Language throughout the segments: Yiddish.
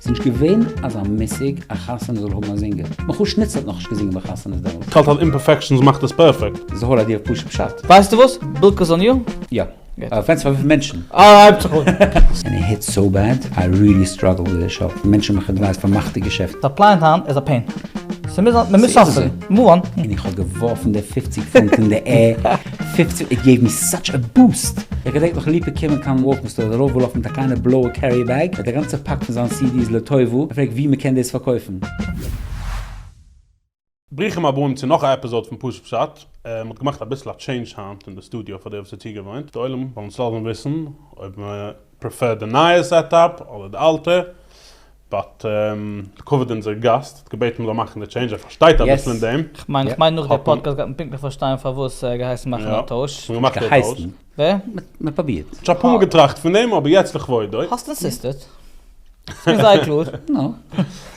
ס'איז נישט געווען אזא מושג א חתונה זאל האבן א זינגער. מחוש ניצל האט נאכנישט געזינגען ביי חתונות דעמאלט. כ'האלט אז אימפערפעקשאנס מאכט עס פערפעקט. זהר האט דיר פשוט פשט. ווייסטו וואס? בילקעס אן יו? יא. גוט. פרעגסט פאר וויפיל מענטשן. אה, הייבט זיך אן. עני היטס סאו בעד? איי ריעלי סטראגל וויט די שאו. מענטשן מאכן אדווייס פאר מאכט די געשעפט. די אפלייענס היינט איז א פעין. ס'מוז זיין, מ'מוז סאספענדן. מאוו אן. און איך האב געווארפן די פופציג פונט אין די ער. פֿופֿצן איט געיוו מי סאטש א בוסט! איך געדענק נאך ליפא קומען קיין וואלקאם סטאר דערויף וואלאפן מיט א קליינע בלויע קערי בעג מיט א גאנצע פאק פון זיין סידיס לטובה און פרעגט ווי מ'קען דאס פארקויפן. ברוכים הבאים צו נאך א עפיזאד פון פשוט פשט. מ'האט געמאכט אביסל א טשעינדזש היינט אין די סטודיאו פאר די וואס איז צוגעוואוינט. די עולם זאל אונז לאזן וויסן אויב מ'פרעפערט די נייע סעטאפ אדער די אלטע. באט די כבוד אונזער גאסט האט געבעטן מ'זאל מאכן די טשעינדזש, ער פארשטייט אביסל אין דעם. כ'מיין כ'מיין נאך די פאדקעסט גייט מען פונקטליך פארשטיין פארוואס ער האט געהייסן מאכן א טויש. געהייסן? ווער? מ'פרובירט. כ'האב שוין אפאר מאל געטראכט פון דעם אבער יעצט לכבודו. האסט אינסיסטעד. כ'בין זייער קלאר. נו.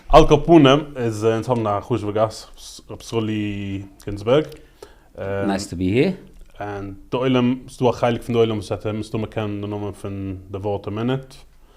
על כל פנים איז אונז האבן א חשוב'ע גאסט ר' סרולי גינזבערג. נייס טו בי העיר. און די עולם, ס'דא א חלק פון די עולם וואס האט מסתמא קען די נאמען פון די ווארט א מינוט.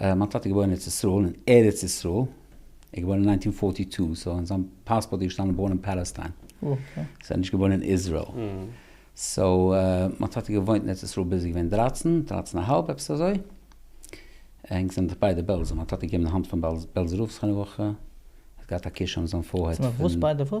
מיין טאטע איז געבוירן ארץ ישראל אין ארץ ישראל, ער איז געבוירן אין ניינטין פארטי טו, סאו אין זיין פאספארט איז געשטאנען בארן אין פאלעסטיין, סאו ער איז נישט געבוירן אין איזרעיל, סאו מיין טאטע האט געוואוינט אין ארץ ישראל ביז ער איז געווען דרייצן, דרייצן א האלב עפעס אזוי, ענק זענען דאך ביידע בעלזא, מיין טאטע איז געבן די האנט פאר בעלזא רב זכרונו לברכה, ער האט געהאט א קשר מיט זיין פארהייט פון.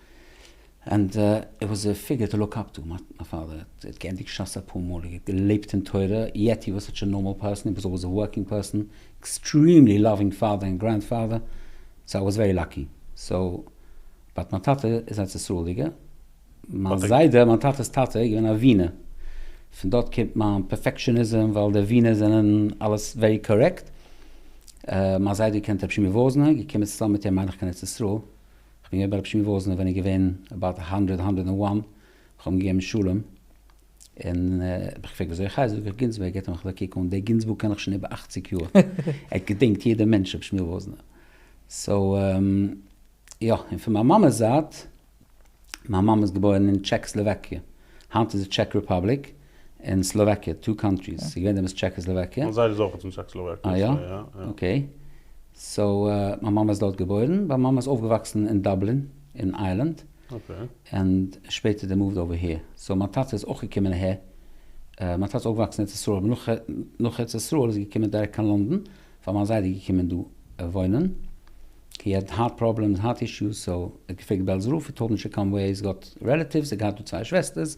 ענד איט וואס א פיגור טו לוק אפ טו, מיין פאדער האט געענדיגט ש ס אפאר מאל, ער האט געלעבט אין תורה, יעט הי וואס סאטש א נארמאל פערסאן, הי וואס אלוועיס א ווארקינג פערסאן, עקסטריעמלי לאווינג פאדער ענד גרענד פאדער, סאו איי וואס ווערי לאקי, סאו באט מיין טאטע איז ארץ ישראל'דיגער, מיין זיידע מיין טאטע'ס טאטע איז געווען א ווינער, פון דארט קומט מיין פערפעקשעניזעם ווייל די ווינער זענען אלעס ווערי קארעקט, מיין זיידע קען את רבי שמעי' וואזנער, געקומען צוזאמען מיט אים מיין איך קיין ארץ ישראל. כ'בין געווען ביי רבי שמעון וואזנער ווען איז געווען אבאוט האנדרעד האנדרעד ענד וואן, כ'האב אים געגעבן שלום, און האב געפרעגט ווי אזוי חי, זאגט ער גינזבורג געט אים כ'זאל קוק אן, דער גינזבורג קען איך שוין איבער אכציג יאר, ער האט געדינגט יעדע מענטש רבי שמואל וואזנער, סאו יא, און פון מיין מאמע'ס זייט, מיין מאמע איז געבוירן אין טשעקסלאוואקיע, היינט איז עס טשעק רעפאבליק. און סלאוואקיע, טו קאנטריס, ס'איז געווען דעמאלס טשעקאסלאוואקיע. מיין זיידע איז אויך פון טשעקאסלאוואקיע. אה יא? אקעי. סאו מיין מאמע איז דארט געבוירן, מיין מאמע איז אויפגעוואקסן אין דאבלין אין איירלענד, און שפעטער דער מאווד אווער היער. סאו מיין טאטע איז אויך געקומען אהער, מיין טאטע איז אויפגעוואקסן אין ארץ ישראל, אבער נאך נאך ארץ ישראל איז ער געקומען דירעקט קיין לונדון, ווייל מיין זיידע איז געקומען דא וואוינען, הי העד הארט פראבלעמס, הארט אישוס, סאו ער האט געפרעגט בעלז רב, ער טאלד מי שיקאם ווער ער איז גאט רעלעטיווס, ער האט געהאט דא צוויי שוועסטערס,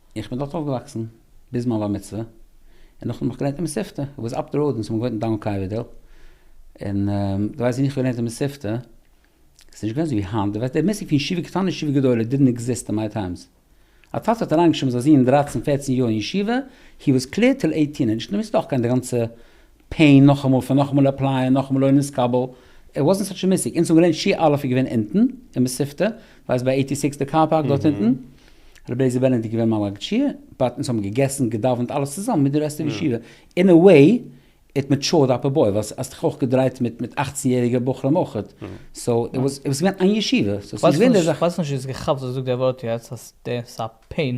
איך בין דארט אויפגעוואקסן ביז מיין בר מצוה, און נאכדעם האב איך געלערנט אין מספתא, וואו איז אפ די ראוד און ס'האבן געוואוינט אין דאון קארווידעל, און די ווייסט ווען איך האב געלערנט אין מספתא, ס'איז נישט געווען אזויווי היינט, די ווייסט די מושג פון ישיבה קטנה ישיבה גדולה דידנט עקזיסט אין מיי טיימס, א טאטע האט אריינגעשריבן זיין זון דרייצן פערצן יאר אין ישיבה, הי וואס קלער טיל עיטין, און נישט נאר מספתא אויך קיין די גאנצע פעין, נאכאמאל פון נאכאמאל עפלייען, נאכאמאל לא נתקבל, איט וואזענט סאטש א מיסטעיק, אונז האבן געלערנט שי' אלף איז געווען אונטן, אין מספתא, ווייסט ביי עיטי סיקס די קאר פארק דארט אונטן, רבי אליעזר בענעדיט איז געווען מלא גדשיה, באט אונז האבן געגעסן, געדאווענט, אלעס צוזאמען מיט די רעסט אוו ישיבה, אין א וועי איט מעטשארד אפ א בוי, ווייל האסט דיך אויך געדרייט מיט מיט אכצן יעריגע בחורים אויך, סאו איט וואזענט, איט וואס געווען איין ישיבה, סאו ס'איז געווען די זאך. כ'ווייס נישט צו איז געכאפט וואס דו זאגסט דערווארט יעצט אז דעס איז א פעין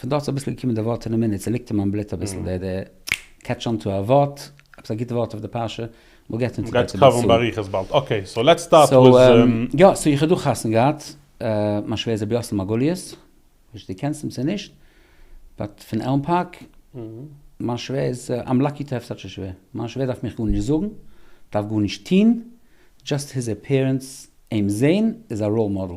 פון דארט איז אביסל געקומען די ווארט אין א מינוט ס'ליגט אין מיין בלוט אביסל די די קעטש אן טו א ווארט, עפעס א גוט ווארט אויף די פרשה, וויל געט אונטער גייט עס קאווערן באריכות באלד, אקעי סאו לעטס סטארט וויז. יא סאו איך האב דא חתונה געהאט מיין שווער זי ביאסל מרגליות, נישט צו די קענסט אים צו נישט, באט פון עלם פארק, מיין שווער איז איים לאקי טו העוו סאטש א שווער, מיין שווער דארף מיך גארנישט זאגן, דארף גארנישט טוהן, דזשאסט היז עפיערענס, אים זעהן איז א ראול מאדעל.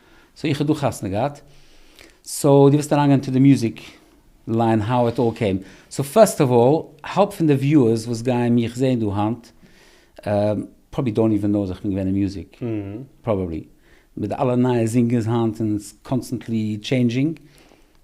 סאו איך האב דא חתונה געהאט, סאו דו וועסט אריינגיין אינטו די מוזיק ליין האו איט אלל קעים, סאו פירסט אוו אלל האלב פון די וויוערס וואס גייען מיך זעהן דא היינט פראבעבלי דאונט איווען נאו אז איך בין געווען אין מוזיק, פראבעבלי מיט די אלע נייע זינגערס היינט און איטס קאנסטענטלי טשעינדזשינג,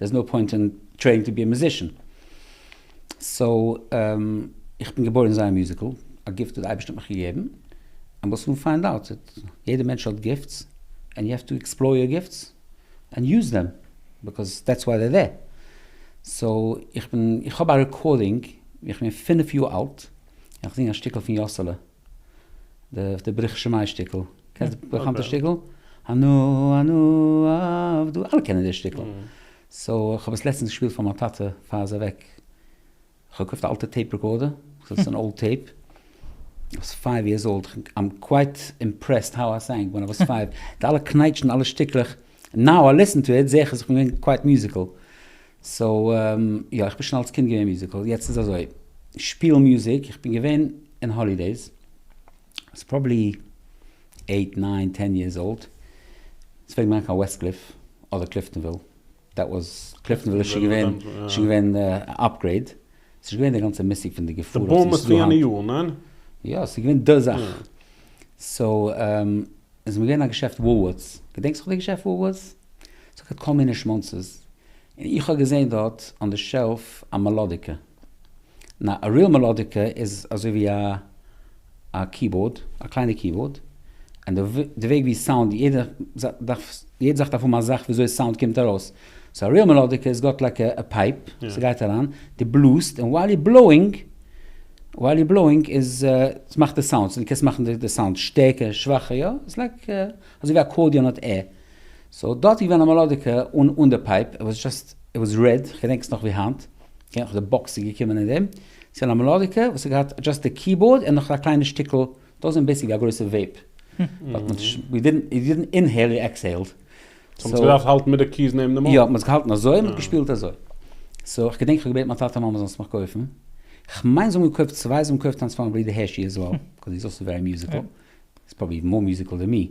דער איז נאו פוינט אין טרייענג טו בי א מיוזישען. סאו איך בין געבוירן זיין א מיוזיקל, א גיפט וואס די אייבערשטער האט מיך געגעבן, ענד וויל סאן פיינד אוט איט. יעדע מענטש האט גיפטס, ענד יו העוו טו עקספלאר יור גיפטס, ענד יוז דעם, ביקאז דעטס וויי זיי דער. סאו איך בין, איך האב א רעקארדינג ווי איך בין פֿינף יאר אלט, און איך זינג א שטיקל פון יאסעלע. די ברוך שמים שטיקל, קענסט די באקאנטע שטיקל? אנא אנא עבדו, אלע קענען די שטיקל. סאו איך האב עס לעצטענס געשפילט פאר מיין טאטע פאר ער איז אוועק. איך האב געקויפט א אלטע טעיפ רעקארדער, ס'איז אן אולד טעיפ, איך וואס פייוו יערס אולד, איים קווייט אימפרעסד האו איי סענג ווען אי וואס פייוו, די אלע קנייטשן אלע שטיקלעך. נאו איי ליסן טו איט, זעה איך אז איך בין געווען קווייט מיוזיקעל, סאו יא איך בין שוין אלס קינד געווען מיוזיקעל, יעצט איז אזוי, שפיל מוזיק, איך בין געווען אין האלידעיס, סאו פראבעלי עיט ניין טען יערס אולד, ס'וועט געווען קיין וועסטקליף אדער קליפטאנוויל, דעט וואס, קליפטאנוויל איז שוין געווען, שוין געווען אפגרעיד, ס'איז נישט געווען די גאנצע מושג פון די געפאר וואס ס'איז דא היינט. יא, ס'איז געווען די זאך. סאו, איז מיר געווען א געשעפט וואלווארטס. געדענקסט זיך די געשעפט וואלווארטס? ס'האט געהאט כל מיני שמאנצעס. און איך האב געזען דארט אן די שעלף א מעלאדיקע. נאו, א ריעל מעלאדיקע איז אזוי ווי א. א קיבאורד, א קליינע קיבאורד, און די וועג ווי סאונד, יעדע זאך דארף האבן א זאך וויאזוי סאונד קומט ארויס, סאו א ריעל מעלאדיקע איז גאט לייק א פייפ, ס'גייט אריין, די בלאזט, און ווייל יו בלאוינג, ווייל יו בלאוינג איז, ס'מאכט די סאונדס, און די קענסט מאכן די סאונד שטערקער, שוואכער, יא, איז לייק אזוי ווי אקארדיאן האט ער, סאו דארט איז געווען א מעלאדיקע אן די פייפ, איט וואס זשאסט, איט וואס רעד, כ'געדענק עס נאך ווי היינט, כ'געדענק נאך די באקס איז געקומען אין דעם. ס'איז א מעלאדיקע וואס האט געהאט דשאסט די קיבאורד און נאך א קליינע שטיקל, דאס איז בעיסיקלי א גרויסע וועיפ, באט מ'האט נישט, יו דידנט אינהעיל יו עקסהעילד. סאו מ'האט זיך געדארפט האלטן מיט די קי'ס נעבן די מויל? יא, מ'האט זיך געהאלטן אזוי און מ'האט געשפילט אזוי. סאו איך געדענק איך האב געבעטן מיין טאטע מאמע זאלן עס מיך קויפן, כ'מיין זיי האבן געקויפט צוויי, זיי האבן געקויפט איינס פאר'ן ברודער הערשי עז וועל, קאוז היז אלסא ווערי מיוזיקל, היז פראבעבלי איוון מאר מיוזיקל דען מי.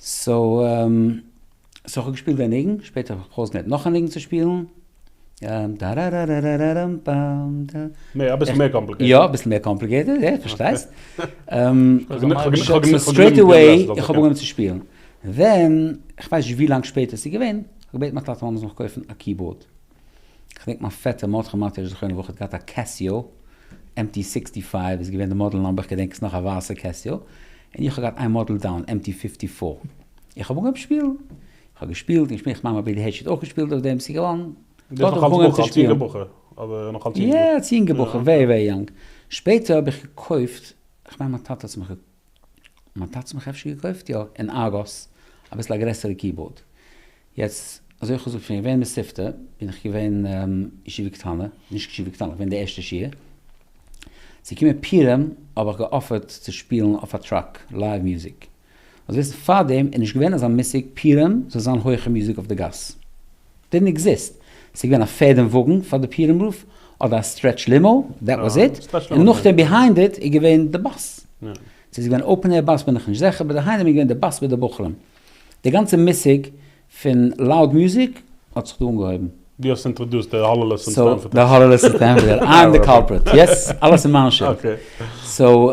סאו איך האב געשפילט די ניגון, שפעטער האב איך בכל זאת געהערט נאך א ניגון צו שפילן, טאראראראראראראם פאם טא. נעה, אביסל מער קאמפליקעיטעד. יא, אביסל מער קאמפליקעיטעד, איך פארשטייסט. סטרעיט עוועי איך האב אנגעהויבן צו שפילן. ווען, איך ווייס נישט ווי לאנג שפעטער ס'איז געווען, האב איך געבעטן מיין טאטע אז מ'זאל מיך קויפן א קיבאורד. כ'דענק מיין פעטער מרת חמה טערש זכרונה לברכה האט געהאט א קעסיאו עם טי סיקסטי פייוו איז געווען די מאדעל נומבער איך געדענק עס נאך א ווייסע קעסיאו און איך האב געהאט איין מאדעל דאון עם טי פיפטי פאר איך האב אנגעהויבן שפילן איך האב געשפילט און געשפילט כ'מיין מיין בי די הערשי האט אויך געשפילט אויף דעם ס'איז געווארן דארט האב איך אנגעהויבן צו שפילן. יא אלס יונגע בחור ווערי ווערי יונג שפעטער האב איך געקויפט כ'מיין מיין טאטע האט עס מיך געקויפט. מ'האט עצמך אפשר געקויפט יא אין ארגוס אביסל א גרעסערע קיבאורד. יעצט אזוי איך האב געזאגט שוין געווען מספטא בין איך געווען ישיבה קטנה, נישט ישיבה קטנה געווען די ערשטע שיעור, ס'איז געקומען פירעם האב איך געאפערט צו שפילן אויף א טראק לייוו מוזיק. מוז וויסן פארדעם איז נישט געווען אזא מושג פירעם זאל זיין הויכע מוזיק אויף די גאס. דידנט עקזיסט, ס'געווען א פערד און וואגן פאר די פירום רוף, אדער א סטרעטש לימא, דעט וואס איט, און נאכדעם ביהיינד איט איז געווען די באס. צו ס'איז געווען אופן עיר באס בין איך נישט זעכער, באט די היינו המה איז געווען די באס מיט די בחורים. די גאנצע מושג פון לאוד מוזיק האט זיך דא אנגעהויבן. דו האסט אינטראדוסט די האללעלעס און סטענפארד היל. די האללעלעס און סטענפארד היל, איי עם די קאלפריט, יעס, אלעס איז מיין שולד. סאו,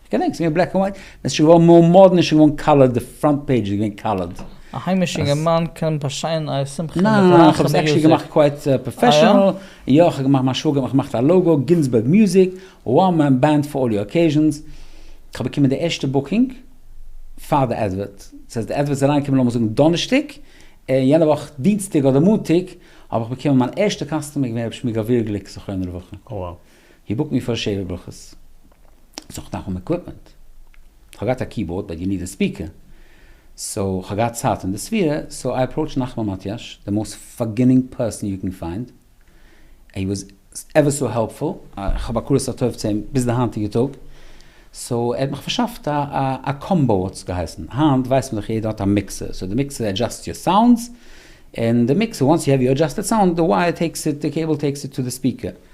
כ'געדענק ס'איז געווען בלעק ענד ווייט, און ס'איז שוין געווארן מאר מאדערן, איז שוין געווארן קאלערד, די פראנט פעידזש איז געווען קאלערד. א היימישע אינגערמאן קען באשיינען א שמחה מיט א נייע כ'האב עס עקשעלי געמאכט קווייט פראפעשענעל, און יא, כ'האב געמאכט, מיין שוואגער האט מיך געמאכט א לאגא, גינזבערג מוזיק, וואן מען בענד פאר אלל יור אקעיזשענס, כ'האב באקומען די ערשטע בוקינג פאר די אדווערט, צו אז די אדווערט איז אריינגעקומען לאמיר זאגן דאנערשטאג, און יענע וואך דינסטאג אדער מאנטאג האב איך באקומען מיין ערשטע קאסטומער איז געווען ר' שמואל גביר גליק זכרונו לברכה. הי בוקט מיר פאר שבע ברכות. סאו כ'דארף האבן עקוויפמענט. כ'האב געהאט א קיבאורד באט יו ניד א ספיקער. סאו כ'האב געהאט צייט אין די ספירה סאו איי אפראוטשד נחמן מאטיאש די מאוסט פארגינינג פערסאן יו קען פיינד ענד הי וואס עווער סאו העלפפול. כ'האב הכרת הטוב צו אים ביז די היינטיגע טאג. סאו ער האט מיך פארשאפט א קאמבאו האט עס געהייסן. היינט ווייסט מען דאך יעדער האט א מיקסער. סאו די מיקסער עדזשאסט יור סאונדס. און די מיקסער וואנס יו העוו יור עדזשאסטעד סאונד די ווייער טעיקס איט די קעיבל טעיקס איט טו די ספיקער.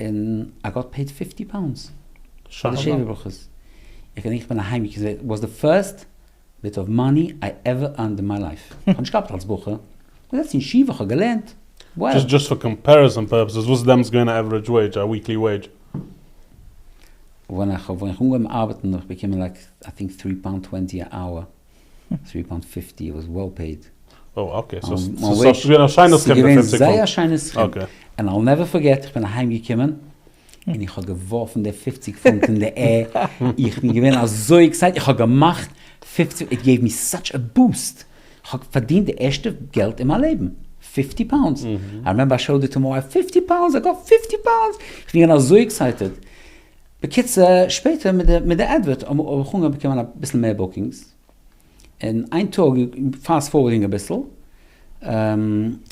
און איי גאט פעיד פיפטי פאונדס פאר די שעיוו ברכות, איך געדענק איך בין אהיים געקומען סאיז וואס די פירסט ביט אוו מאני איי עווער ערנד אין מיי לייף, איך האב נישט געארבעט אלס בחור, איך האב געזעצט אין ישיבה איך האב געלערנט, וואו. דזשאסט פאר קאמפעריזאן פערפעסעס וואס איז דעמאלטס געווען א עווערעדזש וועידזש, א וויקלי וועידזש? ווען איך האב אנגעהויבן ארבעטן האב איך באקומען לייק איי טינק טרי פאונד טווענטי א אוער. טרי פאונט פיפטי איט וואס וועל פעיד. אוי אקעי סאו סאיז געווען א שיינע סכום די פֿופֿציק פונט. סגעווען זייער א שיינע סכום. אקעי. ענד איל נעווער פארגעט איך בין אהיים געקומען און איך האב געווארפן די פֿופֿציק פונט אין די עיר איך בין געווען אזוי עקסייטעד איך האב געמאכט פֿופֿציק איט געיוו מי סאטש א בוסט כהאב פארדינט די ערשטע געלט אין מיין לעבן פֿופֿטי פאונדס איי רעמעמבער איי שאוד איט טו מא ווייף פֿופֿטי פאונדס איי גאט פֿופֿטי פאונדס איך בין געווען אזוי עקסייטעד. בקיצור, שפעטער מיט די מיט די עדווערט האב איך אנגעהויבן באקומען אביסל מער בוקינגס, און איין טאג, פאסט פארווארדינג אביסל,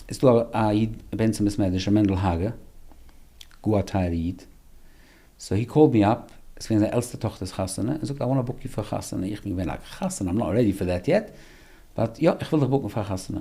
איז דא א איד בן צום ביס מערדערשע מענדל האגער, גאר א טייערע איד, סאו הי קאלד מי אפ, עס איז געווען זיין עלטסטע טאכטער'ס חתונה, און זאגט איי וואנט א בוק יו פאר חתונה, איך בין געווען א חתן, איים נאט רעדי פאר דעט יעט, באט יא איך וויל דיך בוקן פאר א חתונה.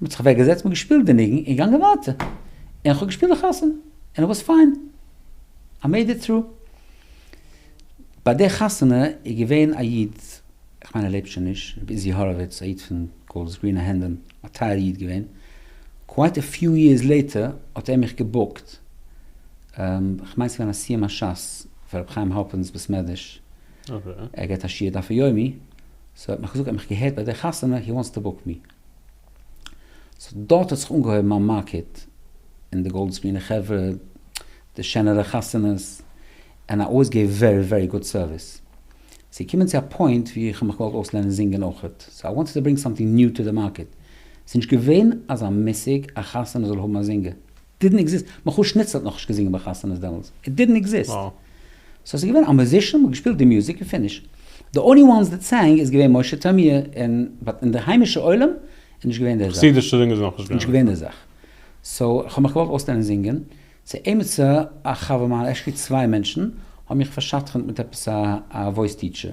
מען האט זיך אוועק געזעצט מען האט געשפילט די ניגון און געגאנגען ווייטער און כ'האב געשפילט די חתונה און ער וואס פיין איי מעיד איט טרו. ביי די חתונה איז געווען א איד כ'מיין ער לעבט שוין נישט רבי איזי האראוויץ א איד פון גאלדס גרין א הענדעם א טייער איד געווען קווייט א פיו יערס לעיטער האט ער מיך געבוקט כ'מיין ס'געווען א סיום השס פאר רבי חיים האלפערנס בית מדרש ער געט א שיעור דף היומי סאו ער האט מיך געזאגט ער האט מיך געהערט ביי די חתונה הי וואנטס טו בוק מי. סאו דארט האט זיך אנגעהויבן מיין מארקעט און די גאלדסמינע חברה, די שענערע חתונות, און איי אלוועיס געב ווערי ווערי גוד סערוויס. ס'געקומען צו א פוינט ווי איך האב מיך געוואלט אויסלערנען זינגען אויכעט, סאו איי וואנטעד טו ברענג סאמטינג ניו טו די מארקעט. ס'נישט געווען אזא מושג א חתונה זאל האבן א זינגער. דידנט עקזיסט, מיכאל שניצלער האט נאכנישט געזינגען ביי חתונות דעמאלטס, איט דידנט עקזיסט, סאו ס'איז געווען א מוזישאן, מ'האט געשפילט די מוזיק און פיניש, די אנלי וואנס דעט סענג איז געווען משה טעמיר און, באט אין די היימישע עולם איז נישט געווען די זאך, חסידישע זינגער איז נאכנישט געווען, נישט געווען די זאך, סאו כ'האב מיך געוואלט אויסלערנען זינגען, צו עימיצער א חבר מיינער, עקשעלי צוויי מענטשן, האבן מיך פארשדכנ'ט מיט עפעס א וואויס טיטשער.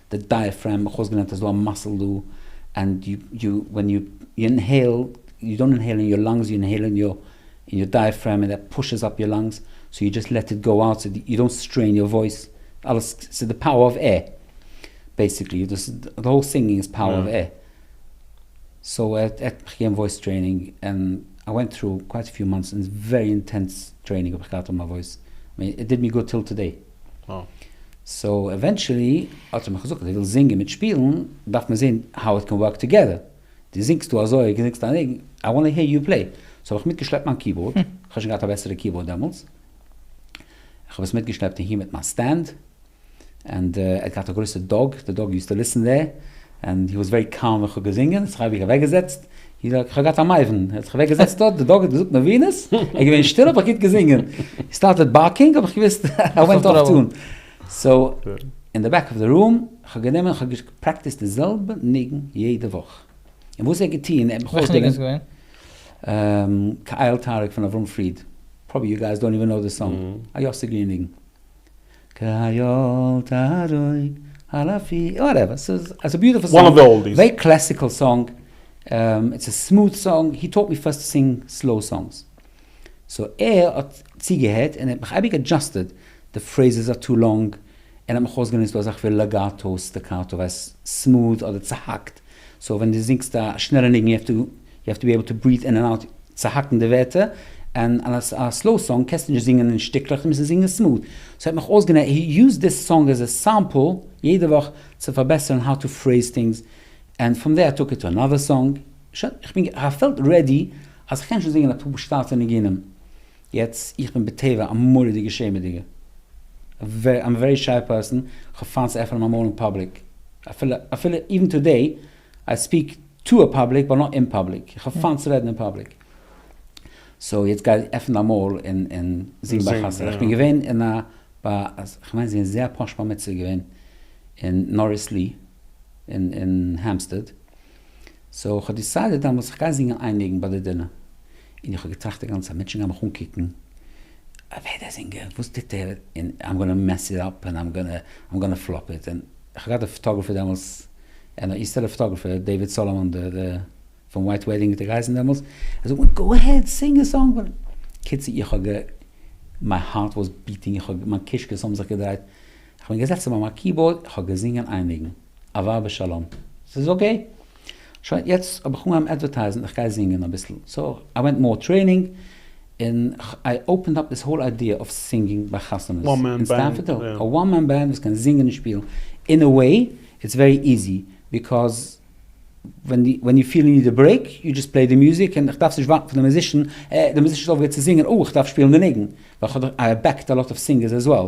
די דייעפרעם אויך אויסגעלערנט איז דא א מאסל דא ענד יו ווען יו אינהעיל יו דאנט אינהעיל אין יור לאנגס יו אינהעיל אין יור אין יור דייעפרעם ענד דעט פושעס אפ יור לאנגס סאו יו דזשאסט לעט איט גאו אוט סאו יו דאנט סטרעין יור וואויס אלעס סאיז די פאוער אוו עיר בעסיקלי דאס איז די האול סינגינג איז פאוער אוו עיר סאו ער ער האט מיך געגעבן וואויס טרעינינג ענד איי ווענט טרו קווייט א פיו מאנטס און ווערי אינטענס טרעינינג האב איך געהאט אויף מיין וואויס ענד איט דיד מי גוד טיל טודעי. סאו עווענטשעלי האט ער מיך געזאגט אז ער וויל זינגען מיט שפילן, דארף מען זעהן האו איט קען ווארק טאגעדער, דו זינגסט דא אזוי און דו זינגסט א ניגון, איי וואנט העיר יו פלעי, סאו האב איך מיטגעשלעפט מיין קיבאורד, איך האב שוין געהאט א בעסערע קיבאורד דעמאלטס, איך האב עס מיטגעשלעפט אהין מיט מיין סטענד, ענד ער האט געהאט א גרויסע דאג, די דאג יוזט טו ליסן דער, ענד הי וואס ווערי קאלם ווען כ'האב געזינגען, האט זיך אייביג אוועק געזעצט, יעדער האט כ'האב געהאט א מייוון, ער האט זיך אוועק געזעצט דארט, די דאג האט געזאגט נבינות, ער איז געווען שטיל אבער גוט געזינגען, הי סטארטעד בארקינג האב איך געוויסט ער ווענט אויף טאן, סאו אין די בעק אוו די רום, כ'האב גענומען און כ'האב געפרעקטיסט די זעלבע ניגון יעדע וואך, און וואס ער האט געטון, ער האט מיך אויסגעלערנט. וועלכע ניגון איז געווען? כאיל תאריק פון אברהם פריד, פראבעלי יו גייס דאנט איווען קנאו די סאנג, א יוסי גרין ניגון. כהיו ת הרוג אלפים, וואטעווער, ס'איז א ביוטעפול סאנג, וואן אוו די אולדיס, ווערי קלעסיקעל סאנג, איטס א סמוט סאנג, הי טאוט מי פירסט טו סינג סלאו סאנגס, סאו ער האט צוגעהערט און ער האט מיך אייביג אדזשאסטעד, די פרעיזעס אר טו לאנג, און ער האט מיך אויסגענוצט דא אז איך וויל לעגאטא, סטעקאטא, ווייל סמוט אדער צוהאקט, סאו ווען דו זינגסט א שנעלע ניגון יו העוו טו בי עיבל טו בריעט אין ענד אוט צו האקן די ווערטער, און א סלאו סאנג קענסטו נישט זינגען אין שטיקלעך דו מוזט זינגען סמאד, סאו ער האט מיך אויסגענע ער יוזד דיס סאנג עז א סעמפל יעדע וואך צו פארבעסערן האו טו פרעיז טינגס, ענד פרום דער איי טאק איט טו אנאדער סאנג, שוין איך בין כ'פעלט רעדי אז כ'קען שוין זינגען אפאר פשוט'ע ניגונים. יעצט, איך בין בטבע א מורא'דיגע שעמעדיגע, איים ווערי שיי פערסאן, כ'האב פיינט צו עפענען מיין מויל אין פאבליק, אפילו, אפילו איווען טודעי, איי ספיעק טו א פאבליק באט נאט אין פאבליק, איך האב פיינט צו רעדן אין פאבליק. סאו יעצט גיי עפן דיין מויל און און זינג ביי חתונה. איך בין געווען אין א, ביי, כ'מיין ס'איז געווען זי א פאש בר מצוה געווען אין נאריס לי, אין אין העמפסטעד. סאו כ'האב דיסיידעד דעמאלטס כ'גיי זינגען איין ניגון ביי די דינער, און איך האב געטראכט די גאנצע צייט מענטשן גייען מיך אנקוקן, ווער דער זינגער? וואס טוט ער? און איים גאנא מעס איט אפ, און איים גאנא פלאפ איט, און כ'האב געהאט די פאטאגרעפער דעמאלטס, אן איסטערלער פאטאגרעפער, דעיוויד סאלאמאן, דער פון ווייט וועדינג האט ער געהייסן דעמאלטס, ער זאגט מיר גאו אהעד סינג א סאנג, קיצור איך האב גע, מיי הארט וואס ביטינג, מיין קישקעס האבן זיך געדרייט, כ'בין געזעצן ביי מיין קיבאורד, כ'האב געזינגען איין ניגון. אהבה ושלום. ס'איז אקעי. שוין, יעצט האב איך אנגעהויבן אדווערטייזן, איך גיי זינגען אביסל. סאו, איי ווענט מאר טרעינינג, און איי אופענד אפ דיס האול איידיע אוו סינגינג ביי חתונות און סטאף. א וואן מען בענד וואס קען זינגען און שפילן. אין א וועי, איטס ווערי איזי, ביקאז ווען יו פיל יו ניד א ברעיק, יו דזשאסט פלעי די מוזיק, און איך דארף נישט ווארטן פון די מוזישן, אה, די מוזישן איז אויפגעהערט צו זינגען, אה, איך דארף שפילן די ניגון. ווייל כ'האב דאך, איי עבעקט א לאט אוו סינגערס עז וועל.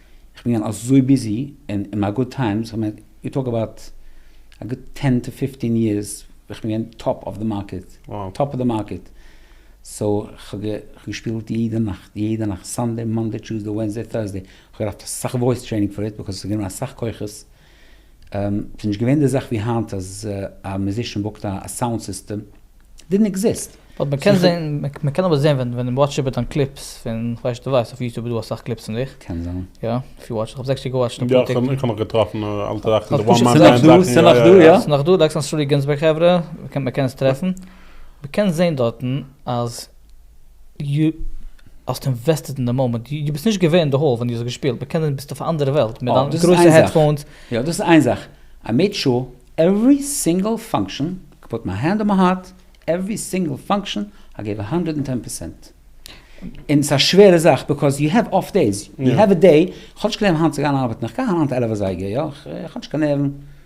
איך בין געווען אזוי ביזי און אין מיין גוד טיימס, כ'מיין יו טאלק אבאוט א גוט טען טו פיפטין יערס ווען כ'בין געווען טאפ אוו די מארקעט, טאפ אוו די מארקעט, סאו כ'האב געשפילט יעדע נאכט, יעדע נאכט, סאנדעי, מאנדעי, טשוזדעי, ווענסדעי, טורסדעי, כ'האב געדארפט אסאך וואויס טרעינינג פאר איט, ביזקאויז ס'האט גענומען אסאך כוחות. ס'איז נישט געווען די זאך ווי היינט אז א מיוזישען בוקט א סאונד סיסטעם, דידנט עקזיסט. באט מען קען זען, מען קען אבער זען ווען ווען וואטש איבער דיין קליפס פון כ'ווייס נישט די ווייסט אויף יוטוב איז דא אסאך קליפס פון דיך. קען זיין. יא, אויף יו וואטש, כ'האב זעקס שטיק געוואטשט און פאר טיק. יא, כ'האב נאך געטראפן אלטע זאכן, די וואן מאן מען זאכן. ס'איז נאך דא, יא? ס'איז נאך דא, דעקסטער און סרולי גינזבערג חברה, מען קען עס טרעפן. מען קען זען דארטן אז. יו האסט אינוועסטעט אין די מאמענט, יו ביסט נישט געווען אין די האל ווען יו האסט געשפילט, בכנען ביסטו אויף א אנדערע וועלט מיט דיין גרויסע העדפאונס. יא דאס איז איין זאך, איי מעיד שור עוורי סינגעל פאנקשען, איי פוט מיי הענד אן מיי הארט, עוורי סינגעל פאנקשען איי געיוו א האנדרעד און טען פערסענט. און ס'איז א שווערע זאך ביקאוז יו העוו אףף דעיס, יו העוו א דעי, כ'האב נישט קיין נערוון היינט צו גיין ארבעטן, איך גיי אהיים היינט עלף אזייגער, יא, כ'האב נישט קיין נערוון,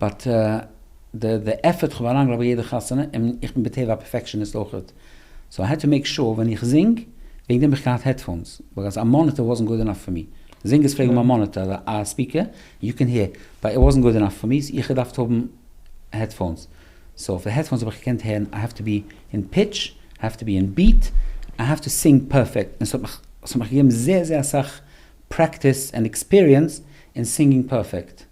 באט די די עפערט איך האב אריינגעלייגט ביי יעדע חתונה, און איך בין בטבע א פערפעקשעניסט אויכעט, סאו איי העד טו מעיק שור ווען איך זינג, וועגן דעם האב איך געהאט העדפאונס, ביקאוז א מאניטער וואזנט גוד ענאף פאר מי, זינגערס פלעגן האבן א מאניטער, א ספיקער, יו קען הער, באט איט וואזנט גוד ענאף פאר מי, סאו איך געדארפט האבן העדפאונס, סאו אויף די העדפאונס האב איך געקענט הערן, איי העוו טו בי אין פיטש, איי העוו טו בי אין ביעט, איי העוו טו סינג פערפעקט, און ס'האט מיך ס'האט מיך געגעבן זייער זייער אסאך פרעקטיס ענד עקספיריענס אין סינגינג פערפעקט.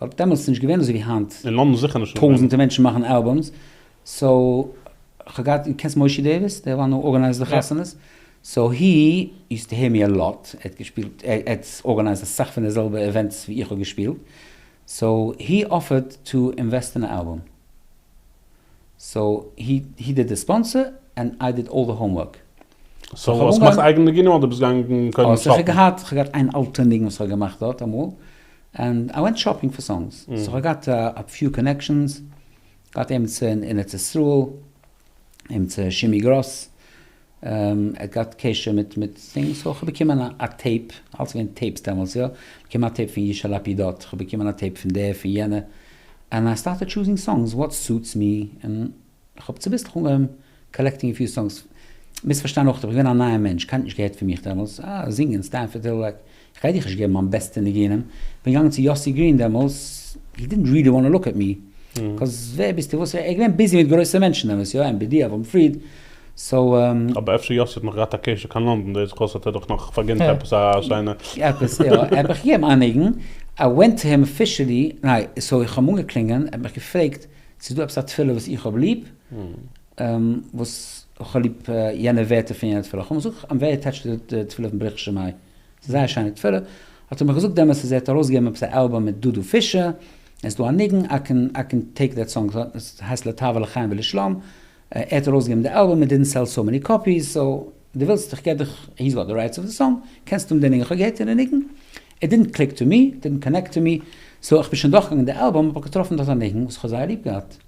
ווייל דעמאלטס איז נישט געווען אזויווי היינט אין לאנדן זיכער נישט נאך ווען. טויזענטע מענטשן מאכן אלבום'ס סאו כ'האב געהאט דו קענסט מושי דעוויס די וואן הו ארגענייזד די יא. חתונות סאו הי יוזט טו הער מי א לאט ער האט געשפילט ער האט ארגענייזד אסאך פון די זעלבע אווענטס ווי איך האב געשפילט סאו הי אפערד טו אינוועסט אין א אלבום. סאו הי הי דיד די ספאנסער ענד איי דיד אלל די האום ווארק. סאו האסט געמאכט אייגענע ניגונים אדער ביסט געגאנגען קודם שאפן? איך האב געהאט איין אלטע ניגון וואס איך האב געמאכט דארט אמאל ענד איי ווענט שאפינג פאר סאנגס. סאו איך האב געהאט א פיו קאנעקשאנס, געהאט עימיצער אין ארץ ישראל, עימיצער שימי גראס, ער גאט קשר מיט מיט דינג סאו כ'האב באקומען א טעיפ, אלס געווען טעיפס דעמאלטס יא, באקומען א טעיפ פון ישי לפידות, כ'האב באקומען א טעיפ פון דער פון יענער, ענד איי סטארטעד טשוזינג סאנגס וואט סוטס מי, און כ'האב צוביסלעך אנגעהויבן קאלעקטינג א פיו סאנגס, מיז פארשטיין אויך כ'בין געווען א נייער מענטש, קיינער האט נישט געהערט פון מיך דעמאלטס, אה זינגען סטענפארד היל, כ'גיי דיך נישט געבן מיין בעסטע ניגונים, כ'בין געגאנגען צו יאסי גרין דעמאלס, הי דידנט ריעלי וואנט טו לוק עט מי, קאז ווער ביסטו וואס, ער איז געווען ביזי מיט גרויסע מענטשן דעמאלס, יא עמ בי די, אברהם פריד, סאו. אבער אפשר יאסי האט נאך געהאט א קשר קיין לאנדאן, דאס וואס האט ער דאך נאך פארגינט עפעס א שיינע. עפעס יא, ער האט מיך געגעבן איין ניגון, איי ווענט טו הים אפישעלי, ניין, סאו איך האב אים אנגעקלינגען, ער האט מיך געפרעגט צו איז דא עפעס א תפילה וואס איך האב ליב, וואס איך האב ליב יענע ווערטער פון יענע תפילה, כ'האב אים געזאגט, איים ווערי עטעטשד צו די תפילה פון בריך שמי. זייער שיינע תפלה, האט ער מיך געזאגט דעמאלטס אז ער האט ארויסגעגעבן עפעס א אלבום מיט דודו פישער, עס איז דא א ניגון, איי קען איי קען טעיק דעט סאנג, עס הייסט לטב לחיים ולשלום, ער האט ארויסגעגעבן די אלבום, איט דידנט סעל סאו מעני קאפיס, סאו דו ווילסט איך געב דיך, הי'ס גאט די רייטס אוו די סאנג, קענסט האבן די ניגון, איך האב געהערט די ניגון, איט דידנט קליק טו מי, איט דידנט קאנעקט טו מי, סאו איך בין שוין דורכגעגאנגען די אלבום, האב איך געטראפן דארט א ניגון וואס איך האב זייער ליב געהאט,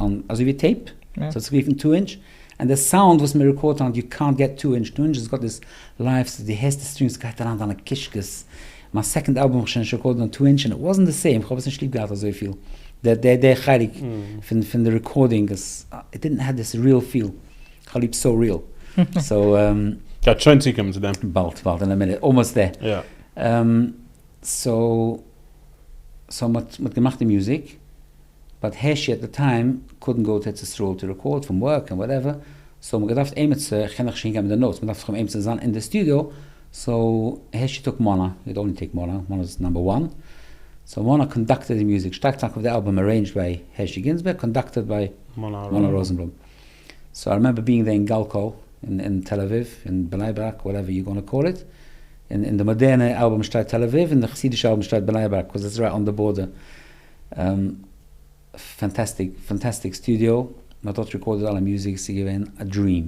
און אזוי ווי טעיפ, ס'האט זיך גערופן טו אינטש, און די סאונד וואס מען רעקארדט אן יו קאנט געט טו אינטש, טו אינטש איז גאט איז לייוו סאו דו הערסט די סטרינגס סגייט אריין דיינע קישקעס, מיין סעקאנד אלבום האב איך שוין נישט רעקארדעד אן טו אינטש און איט וואזענט די סעים, כ'האב עס נישט ליב געהאט אזויפיל די די חלק פון די רעקארדינג איז איט דידנט העוו דיס ריעל פיל, כ'האב ליב סאו ריעל סאו. גייט שוין צוקומען צו דעם. באלד באלד אין א מינוט אלמאסט דער. יא. סאו סאו מ'האט געמאכט די מוזיק. באט ה' עט די טיים קאודנט גאו טו ארץ ישראל טו רעקארד פון ווארק און וואטעווער סאו מ'האט געדארפט עימיצער איך קען דאך נישט אהינגיין מיט די נאוטס מ'דארף דאך עימיצער זיין אין די סטודיאו סאו ה' טאק מונה יו דאונט ניד טעיק מונה מונה איז נאמבער וואן סאו מונה קאנדאקטעד די מוזיק שטארק טאנק אויף די אלבום ארעינדזשד ביי הש י גינזבערג קאנדאקטעד ביי מונה ראזענבלום סאו איי רימעמבער בינג דער אין גאלקא אין תל אביב אין בני ברק וואטעווער יו גאנא קאל איט און די מאדערנע אלבום שטייט תל אביב און די חסידישע אלבום שטייט בני ברק קאוז איטס רייט אן די בארדער. פענטעסטיק פענטעסטיק סטודיאו, מען האט דארט רעקארדעד אלע מוזיק, ס'איז געווען א דריעם,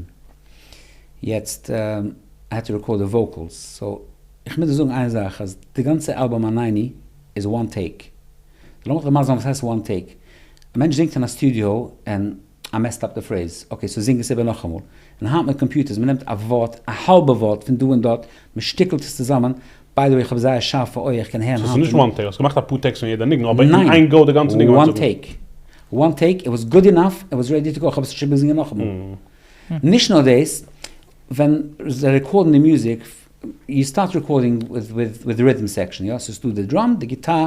יעצט איי האד טו רעקארד די וואוקעלס, סאו איך מוז דיר זאגן איין זאך אז די גאנצע אלבום עניני איז וואן טעיק, לאמיך דיר מסביר זיין וואס הייסט וואן טעיק, א מענטש זינגט אין א סטודיאו און איי מעסד אפ די פרעיז, אקעי סאו זינג עס איבער נאכאמאל. און היינט מיט קאמפיוטערס, מען נעמט א ווארט, א האלבע ווארט פון דא און דארט, מען שטיקלט עס צוזאמען, ביי די וועי איך האב זייער שארפע אויער איך קען הערן היינט און. סאו ס'איז נישט וואן טעיק, האסט געמאכט א פאר טעיקס פון יעדע ניגון, אבער אין איין גאו די גאנצע ניגון אנצוגן. ניין, וואן טעיק, איט וואס גוד אינאף, איט וואס רעדי טו גאו, איך האב עס נישט איבער געזינגען נאכאמאל. נישט נאר דאס, ווען זיי רעקארדן די מוזיק, יו סטארט רעקארדינג וויט ריטעם סעקשאן, יא, ס'איז דא די דראם, די גיטאר,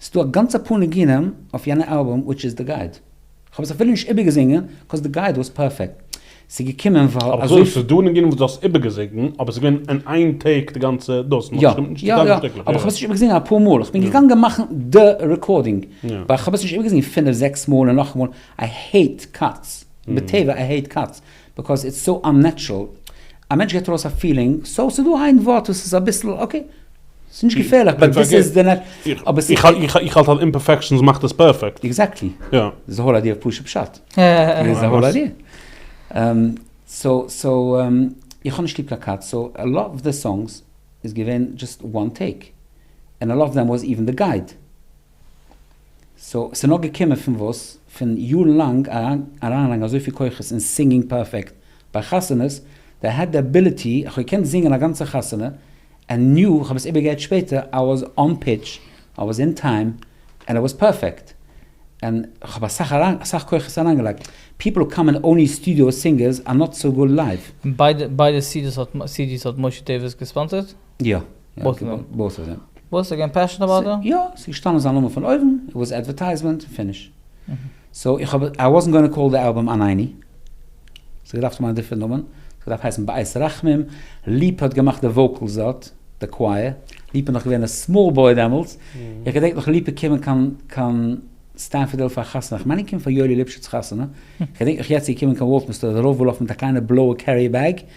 ס'דא א גאנצע פאר ניגונים אויף יענע אלבום וויטש איז די גייד. כ'האב עס אפילו נישט איבערגעזינגען קאוז די גייד וואס פערפעקט. ס'איז געקומען ווייל אזוי. אבער כ'זאג נישט ס'איז דא ניגונים וואס דו האסט איבערגעזינגען אבער ס'איז געווען אין איין טעיק די גאנצע דאס יא יא יא אבער כ'האב עס נישט איבערגעזינגען אפאר מאל כ'בין געגאנגען מאכן די רעקארדינג ווייל כ'האב עס נישט איבערגעזינגען פינף זעקס מאל און נאכאמאל איי העיט קאטס בטבע איי העיט קאטס ביקאוז איטס סאו אננעטשרעל, א מענטש געט ארויס א פילינג, סאו ס'איז דא איין ווארט וואס איז אביסל אקעי, ס'איז נישט געפערליך, באט דיס איז די נעט. איך האלט אז אימפערפעקשאנס מאכט עס פערפעקט. עקזעקטלי. די זאהל איידיע פשוט פשט. די זאהל איידיע. סאו סאו איך האב נישט ליב קיין קאטס, סאו א לאט אוו די סאנגס איז געווען דזשאסט וואן טעיק, ענד א לאט אוו דעם וואס איווען די גייד. סאו ס'איז נאר געקומען פון וואס? פון יארן לאנג אריינלייגן אזויפיל כוחות אין סינגינג פערפעקט ביי חתונות, די העד די עביליטי, איך האב געקענט זינגען א גאנצע חתונה, ענד ניו איך האב עס איבערגעהערט שפעטער, איי וואס אן פיטש, איי וואס אין טיים, ענד איי וואס פערפעקט, ענד כ'האב אסאך אסאך כוחות אריינגעלייגט, פיפל האב קאמענט אוני סטודיאו סינגערס אר נאט סאו גוד לייוו. ביידע סידיס האט משה טעווערס געספאנסערט? יא. בויס איז געווען. בויס איז געווען. בויס איז געווען פעשן אבאוט דעם? יא, ס'איז געשטאנען זיין נאמען פון אויבן, איט וואס אדווערטייזמענט און פיניש. סאו איך האב, איי וואזנט גאנא קאל די אלבום אן עיני. ס'האט געדארפט האבן א דיפרענט נאמען, ס'האט געדארפט הייסן בית רחמים, ליפא האט געמאכט די וואוקעלס דארט, די קווייער, ליפא איז נאך געווען א סמאל בוי דעמאלטס, איך געדענק נאך ליפא קומען קיין קיין סטענפארדעל פאר א חתונה, איך מיין ער קומט פאר יואלי ליפשיץ חתונה, כ'געדענק נאך יעצט ער קומען קיין וואלטמסטער, דער רב וואלאך מיט א קליינע בלויע קעריער בעג.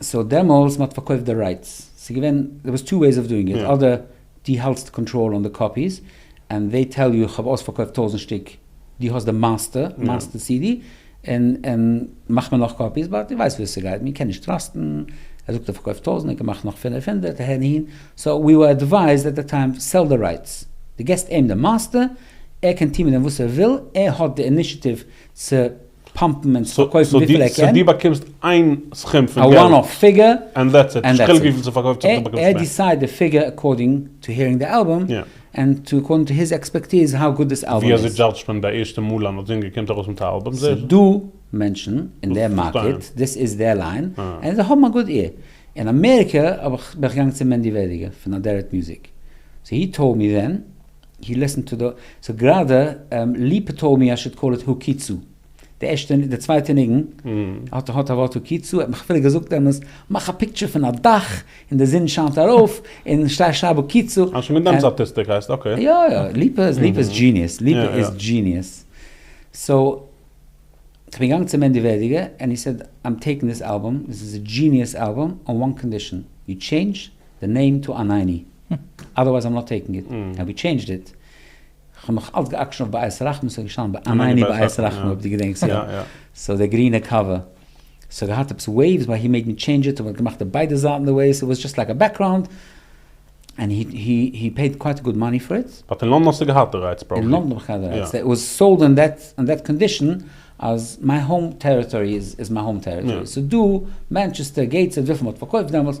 סאו דעמאלס מען האט פארקויפט די רייטס, ס'איז געווען דער וואס טו וועיס אוו דואינג איט, אדער די האלטסט קאנטראל אן די קאפיס, ענד דעי טעל יו איך האב אויספארקויפט טויזענט שטיק, די האסט די מאסטער מאסטער סי די, און און מאך מיר נאך קאפיס, באט די ווייסט וויאזוי ס'גייט, מען קען נישט טראסטן, ער זאגט ער פארקויפט טויזענט ער קען מאכן נאך פינעף הונדערט אהער און אהין, סאו ווי ווער עדווייזד עט די טיים סעל די רייטס, די געסט אים די מאסטער, ער קען טון מיט דעם וואס ער וויל, ער האט די אינישעטיוו צו. פאמפן און צו פארקויפן וויפיל ער קען. סאו דו באקומסט איין סכום פון געלט. א וואן אף פיגור. ענד דעטס איט. נישט חילוק וויפיל ס'פארקויפט זיך דו באקומסט מער. ער דיסייד די פיגור אקארדינג טו הערינג די אלבום. יא. ענד טו אקארדינג טו היז עקספערטיז האו גוד דיס אלבום איז. ווי אזוי דזשאדזשט מען די ערשטע מאל אז א זינגער קומט ארויס מיט א אלבום? ס'דא מענטשן אין די מארקעט, דאס איז דער ליין, און זיי האבן א גוד עיר. אין אמעריקע בין איך געגאנגען צו מענדי וועדיגער פון אדערעט מיוזיק. סאו הי טאלד מי ווען הי ליסטענד טו די, סאו גראדע ליפא טאלד מי איי שוד קאל איט הוקיצו, די ערשטע, די צווייטע ניגון האט האט א ווארט הוקיצו, ער האט מיך אפילו געזאגט דעמאלטס מאך א פיקטשער פון א דאך און די זון שיינט ארויף און שטייט שרייב הוקיצו. אה שוין מיט דעם סטאטיסטיק הייסט אקעי. יא יא ליפא איז ליפא איז דזשיניעס, ליפא איז דזשיניעס, סאו כ'בין געגאנגען צו מענדי ווערדיגער און הי סעד איים טעיקינג דיס אלבום, עס איז א דזשיניעס אלבום אן וואן קאנדישאן, יו טשעינדזש די נעים טו אנייני. אדערווייז איים נאט טעיקינג איט, אנד ווי טשעינדזשד איט, כ'האב נאך אלץ געאקשן אויף בית רחמים, ס'האט געשטאנען בעניני בית רחמים אויב דו געדענקסט יא, סאו די גרינע קאווע, ס'האט געהאט עפעס וועיווס באט הי מעיד מי טשעינדזש איט און מ'האט געמאכט די ביידע זייטן די וועיווס, איט וואס דזשאסט לייק א בעקראונד, אנד הי פעיד קווייט גוד מאני פאר איט. באט אין לונדון האסטו געהאט די רייטס פראבעבלי. אין לונדון האב איך געהאט די רייטס, איט וואס סאלד און דעט קאנדישן אז מיי האום טעריטארי איז מיי האום טעריטארי, סאו דא, מענטשעסטער, געיטסהעד, וויפיל מ'האט פארקויפט דעמאלטס,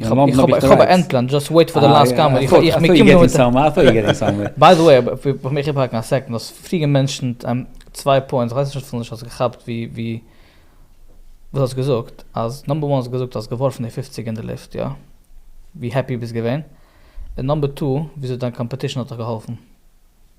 איך האב איך האב איך האב א ענטלען דזשאסט וועיט פאר די לאסט קאמענט איך איך מיט קימער מיט ביי די וועי פאר מיך איבער האקן א סעקנד האסט פריער געמענטשענט צוויי פוינטס איך ווייס נישט אפילו נישט האסט געכאפט ווי ווי וואס האסט געזאגט אז נאמבער וואן האסט געזאגט האסט געווארפן די פופציג אין די לופט יא ווי העפי ביסט געווען און נאמבער טו וויאזוי דיין קאמפעטישן האט דיך געהאלפן.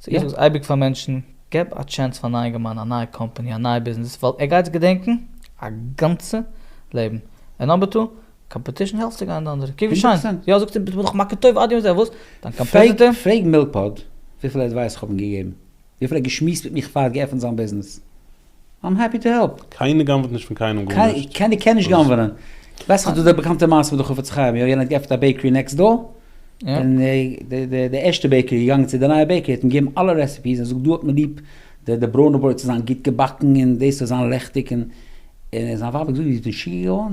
סאו איך זאג אייביג פאר מענטשן, געב א טשענס פאר נייע געמיינדע, א נייע קאמפאני, א נייע ביזנעס, ווייל ער גייט עס געדענקן א גאנצע לעבן, און אויב טא קאמפעטישן העלפט צו גיין די אנדערע, קוק ווי שיין, יא זאגט ער, דאך מאקעט טוב עד יום זה, וואס? דיין קאמפעטיטער? פרעג מילקפאד וויפיל עדווייס כ'האב אים געגעבן, וויפיל ער האט געשמועסט מיט מיך פאר ער האט געעפנט זיין ביזנעס, איים העפי טו העלפ. קיינער גנב'ט נישט פון קיינעם גארנישט. קיינער קען נישט גנב'נען. ווייסט דאך דא די באקאנטע מעשה מיט די חפץ חיים, יא יענער האט געעפענט א בעיקערי נעקסט דאר, און די ערשטע בעיקערי איז געגאנגען צו די נייע בעיקערי האט אים געגעבן אלע רעסעפיס און זאגט דא האט מען ליב די ברוינע ברויט צו זיין גוט געבאקן און דאס צו זיין לעכטיג און זיין ווייב האט געזאגט דו ביסט משוגע געווארן?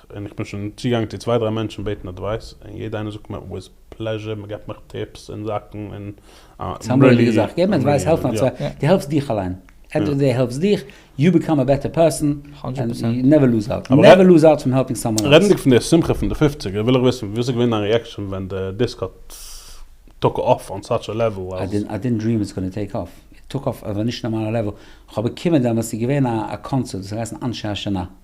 און איך בין שוין צוגעגאנגען צו צוויי דריי מענטשן בעטן אדווייס און יעדע איינער זאגט מיר וויז פלעזשער מען געבט מיך טיפס און זאכן און איים רעדי יא. די העלפסט דיך אליין, ענד אוו די דעי העלפסט דיך, יו ביקאם א בעטער פערסאן, נעווער לוז הארט, נעווער לוז הארט פון העלפינג סאמאן עלס. רעדנדיג פון די שמחה פון די פופציגער וויל איך וויסן וויאזוי געווען דיין ריעקשאן ווען די דיסק האט טאק אףף אן סאטש א לעוועל אז. איי דינט דריעם איטס גאנע טעיק אףף, איט טאק אףף אויף א נישט נארמאלע לעוועל, כ'האב באקומען דעמאלטס איז געווען א קאנצערט וואס האט געהייסן אנשי השנה.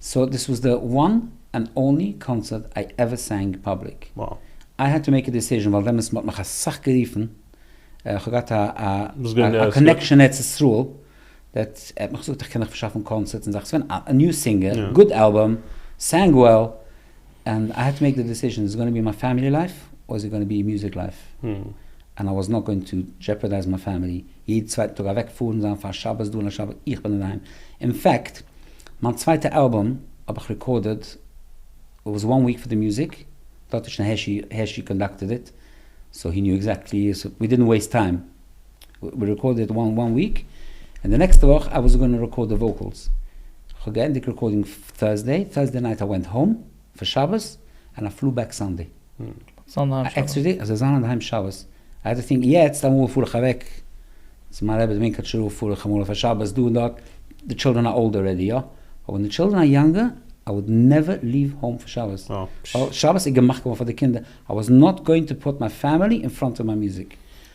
סאו דיס וואס די וואן ענד אנלי קאנצערט איי עווער סענג פאבליק, איי העד טו מעיק א דיסיזשען ווייל דעמאלטס מ'האט מיך אסאך גערופן, כ'האב געהאט א קאנעקשען אין ארץ ישראל, דעט ער האט מיך געזאגט איך קען דיך פארשאפן קאנצערטס און זאכן, ס'געווען א ניו סינגער, גוד אלבום, סענג וועל. ענד איי העד טו מעיק די דיסיזשען, איז איט גאנע בי מיי פעמילי לייף אור איז איט גאנע בי מוזיק לייף, ענד איי וואס נאט גאוינג טו דזשעפערדייז מיי פעמילי, יעדן צווייטן טאג אוועק פארן זיין פאר שבת דא און לשבת דארט, איך בין אינדערהיים, אין פעקט מיין צווייטע אלבום האב איך ריקארדעד איט וואס וואן וויק פאר די מוזיק דארט האט שוין הערשי קאנדאקטעד איט, סאו הי ניו עקזעקטלי, סאו ווי דידנט וועיסט טיים. ווי רעקארדעד וואן וואן וויק און די נעקסטע וואך איי וואס גאנא רעקארד די וואוקעלס, כ'האב געענדיגט רעקארדינג טורסדעי, טורסדעי נייט איי ווענט האום פאר שבת און איי פלו בעק סאנדעי. עקסטערדעי אז זיי זיין אינדערהיים שבת עווערטינג, יעצט אמאל פאר איך אוועק צו מיין רעבע'ס ווינקל טשערוב פאר איך אמאל פאר שבת דא און דארט, די טשילדרען אר אולדער רעדי יא, אבער ווען די טשילדרען אר יאנגער איי וואלד נעווער ליוו האום פאר שבת, ווייל שבת איז געמאכט געווארן פאר די קינדער, איי וואס נאט גאוינג טו פוט מיי פעמילי אין פראנט אוו מיי מוזיק.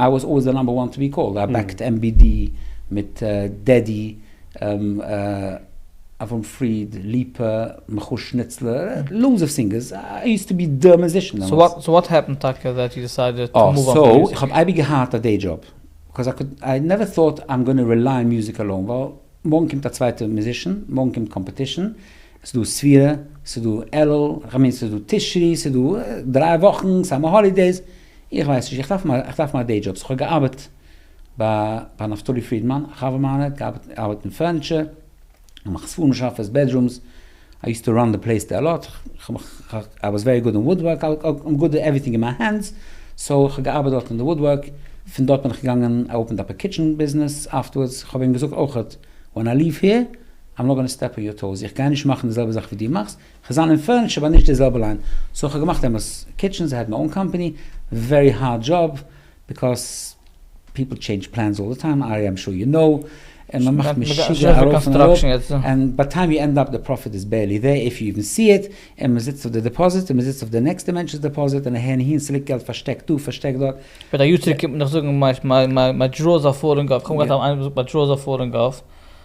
איי וואס אלוועיס די נאמבער וואן טו בי קאלד, איי בעקט MBD מיט דעדי, אברהם פריד, ליפא, מיכל שניצלער, לאודס אוו סינגערס, איי יוזט טו בי די מוזישען דעמאלטס. סאו וואט העפענד טאקע דעט יו דיסיידעד טו מאוו אן פון מוזיק? איך האב אייביג געהאט א דעי דזשאב, קאוז איי קוד, איי נעווער טאוט איים גאנע רילייען מוזיק אלאון, ווייל מארגן קומט א צווייטע מוזישען, מארגן קומט קאמפעטישען, ס'איז דא ספירה, ס'איז דא אלול, כ'מיין ס'איז דא תשרי, ס'איז דא דריי וואכן, סאמער האלידעיס, איך ווייס נישט, איך דארף מיין דעי דזשאב, איך האב געארבעט ביי נפתלי פרידמאן, א חבר מיינער האט געארבעט אין פורניטשער, געמאכט ספרים שאפעס, בעדרומס, איי יוזט טו ראן די פלעיס דער אלאט, איי וואס ווערי גוד אין וואודווארק, איים גוד אין עווריטינג אין מיי הענדס, סאו איך האב געארבעט דארט אין די וואודווארק, פון דארט בין איך געגאנגען איי אופענד אפ א קיטשען ביזנעס אפטערווארדס, איך האב אים געזאגט אויכעט, ווען איי ליוו העיר, איים נאט גאנא סטעפ אן יור טאוס, איך גיי נישט מאכן די זעלבע זאך ווי דו מאכסט, כ'זיין אין פרענטש אבער נישט די זעלבע ליין, סאו כ'האב געמאכט עמעס קיטשענס, איי העד מיי אן קאמפעני, ווערי הארד דזשאב, ביקאוס פיפל טשעינדזש פלענס אלל די טיים, ארי איים שור יו נאו, און מ'מאכט משוגע ארויף און אראפ, און ביי טיים יו ענד אפ די פראפיט איז בערלי דער איף יו איווען סי איט, און מ'זיצט אויף די דעפאזיט, און מ'זיצט אויף די נעקסטע מענטש'ס דעפאזיט, און אהין אהין, ס'ליגט געלט פארשטעקט דא, פארשטעקט דארט. וועט א יו ט צוריק קומט און נאך זאגן מיי דראוס אר פאלינג אף, כ'האב געהאט איינער וואס האט געזאגט מיי דראוס אר פאלינג אף.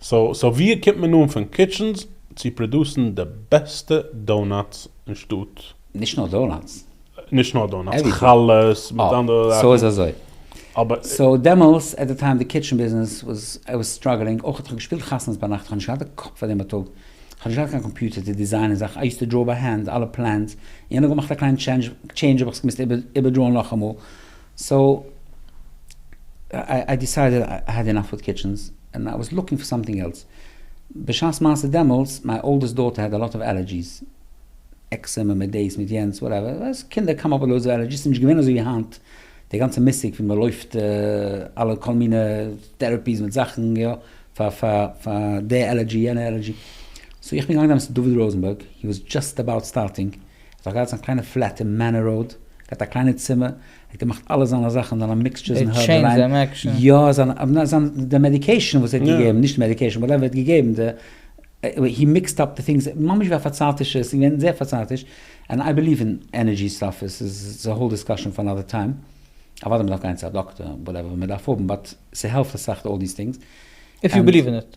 סאו ווי קומט מען אן פון קיטשענס צו פראדוסן די בעסטע דאונאטס אין שטאט? נישט נאר דאונאטס. נישט נאר דאונאטס, חלות מיט אנדערע זאכן. סאו איז אזוי. סאו דעמאלס עט די טיים די קיטשען ביזנעס וואס איי וואס סטראגלינג אויך האט איך געשפילט חתונות ביינאכט איך האב נישט געהאט די קאפ פאר דעם בייטאג איך האב נישט געהאט קיין קאמפיוטער צו דיזיינען זאכן איי יוז טו דראו ביי הענד אלע פלענס יענע האט געמאכט א קליין טשעינדזש האב איך עס געמוזט איבערדראון נאכאמאל. סאו איי דיסיידעד איי העד אינאף וויט קיטשענס און איי וואס לוקינג פאר סאמטינג עלס. בשעת מעשה דעמאלטס מיי אולדעסט דאטער העד אלאט אוו עלערדזשיס, עקסעמע מיט דעיס מיט יענץ וואטעווער, ווייסט קינדער קאם אפ וויט לאודס אוו עלערדזשיס ס'איז נישט געווען אזוי ווי היינט די גאנצע מושג ווי מ'לויפט אלע כל מיני טערעפיס מיט זאכן יא פאר פאר פאר די עלערדזשי יענע עלערדזשי. סאו איך בין געגאנגען דעמאלטס צו דוד ראזענבערג הי וואס דזשאסט עבאוט סטארטינג. ער האט געהאט זיין קליינע פלעט אין מענער ראוד, געהאט א קליינע צימער, ער האט געמאכט אלע זיינע זאכן אין א מיקסטשערס אין הערב אריין, יא זיין די מעדיקעישן וואס ער האט געגעבן, נישט מעדיקעישן וואטעווער ער האט געגעבן די, הי מיקסד אפ די טינגס, ממש ווי א פארצייטישע, עס איז געווען זייער פארצייטיש, ענד איי ביליוו אין ענערדזשי סטאף, עס איז א האול דיסקאשען פאר אנאדער טיים, אוודאי מען דארף גיין צו א דאקטער, וואטעווער מען דארף האבן, באט ס'העלפט אסאך אלל דיס טינגס. איף יו ביליוו אין איט.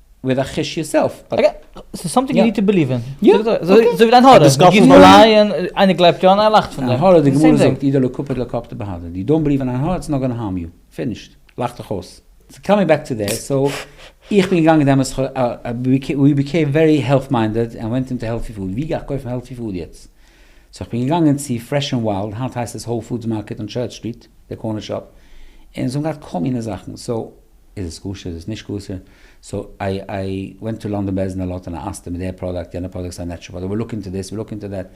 וויט א חוש יור סעלף באט יא. ס'איז סאמטינג יו ניד טו ביליוו אין. יא. אזוי ווי דיין הארא. גיוו יור אן איי און איינער גלייבט יא און איינער לאכט פון דעם. עין הרע די גמרא זאגט אידא לא קופד לא קפדא בהדא. יו דאונט ביליוו אין עין הרע איטס נאט גאנא הארם יו. פינישט. לאך דיך אויס. סאו קאמינג בעק טו דעט. סאו איך בין געגאנגען דעמאלטס ווי ביקעים ווערי העלט מיינדעד ענד ווענט אינטו העלטי פוד. ווי גיי איך קויפן העלטי פוד יעצט? סאו איך בין געגאנגען צו פרעש ענד וויילד, היינט הייסט עס האול פודס מארקעט אן טשערטש סטריט, די קארנער שאפ, און זיי האבן געהאט כל מיני זאכן. סאו. איז עס כשר איז עס נישט כשר, סא איי איי ווענט טא לאנדאן בעז אין א לאט און א אסתר מיט דער פראדאקט יענע פראדאקט איז א נעטשרעל פראדאקט וויל לוק אינטא דיס וויל לוק אינטא דעט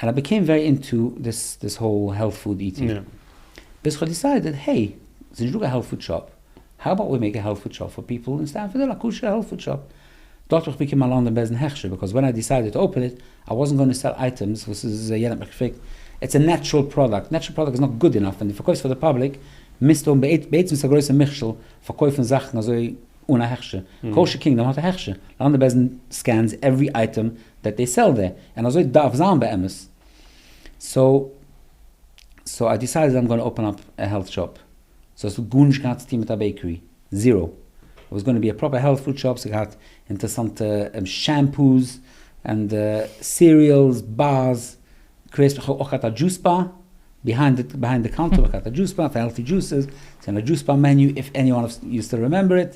ענד איי בעקעם ווערי אינטא דיס דיס האול העלט פוד איטינג ביז כ'האב דיסיידעד העי ס'נישט דא קיין העלט פוד שאפ האו אבאוט ווי מעיק א העלט פוד שאפ פאר פיפל אין סטענפארד היל א כשר העלט פוד שאפ. דארט האב איך באקומען א לאנדאן בעסטן הכשר ביקאוס ווען איי דיסיידעד טו אפען איט איי וואזנט גאונע סעל אייטעמס וואס איז יענער האט מיך געפרעגט איטס א נעטשרעל פראדאקט נעטשרעל פראדאקט איז נאט גוד אינאף ווען די פארקויפסט פאר די פאבליק מיזטו האבן בעצם ס'איז א גרויסע מכשול פארקויפן זאכן אזוי אן א הכשר קאושער קינגדאם האט א הכשר לאנדאן בעסטן סקענס עווערי אייטעם דעט דעי סעל דער און אזוי דארף זיין באמת סאו סאו איי דיסיידעד אז איים גאנע אפען אפ א העלט שאפ. סאו עס האט גארנישט געהאט צו טון מיט א בעיקערי. זירא. איט וואס גאנע בי א פראפער העלט פוד שאפ, ס'האט געהאט אינטערסאנטע שעמפוס, ענד סיריעלס בארס, קרעיז, כ'האב אויך געהאט א דזשוס באר, ביהיינד די קאונטער האב איך געהאט א דזשוס באר פאר העלטי דזשוסעס, ס'געווען א דזשוס באר מעניו, איף עניוואן אוו יו סטיל רעמעמבער איט.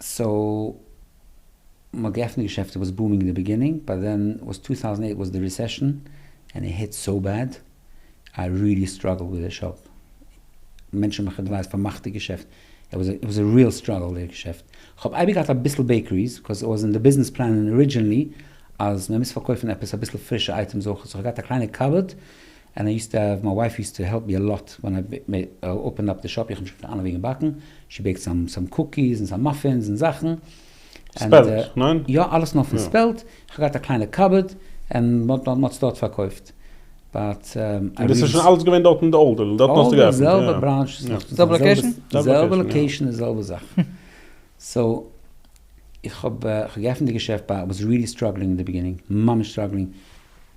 סאו מ'האט געעפנט געשעפט איט וואס בומינג אין די ביגינינג באט דען וואס טו טאוזענד עיט וואס די ריסעשען ענד איט היט סאו בעד איי ריעלי סטראגעלד וויט די שאפ מענטשען האבן מיך געגלייזט פארמאכט די געשעפט איט וואס א ריעל סטראגעל די געשעפט כ'האב אייביג געהאט אביסל בעיקעריס בקאוז איט וואס אין די ביזנעס פלענען ארידזשענלי אז מ'מוז פארקויפן עפעס אביסל פרישע אייטעמס אויכעט סאו כ'האב געהאט א קליינע קאבארד ענד איי יוזט טו העוו מיי ווייף יוזט טו העלפ מי אלאט ווען איי אפענד אפ די שאפ איך האב נישט געקענט פארן וועגן באקן שי בעיקט סאם סאם קוקיס און סאם מאפינס און זאכן ענד יא אלעס נאר פון ספעלט איך האב געהאט א קליינע קאבערד ענד מען האט עס דארט פארקויפט באט און דאס איז שוין אלעס געווען דארט אין די אולד דארט האסטו געעפנט די זעלבע בראנטש די זעלבע לאקעישן די זעלבע זאך סאו איך האב געעפנט די געשעפט באט אי וואס רילי סטראגלינג אין די ביגינינג ממש סטראגלינג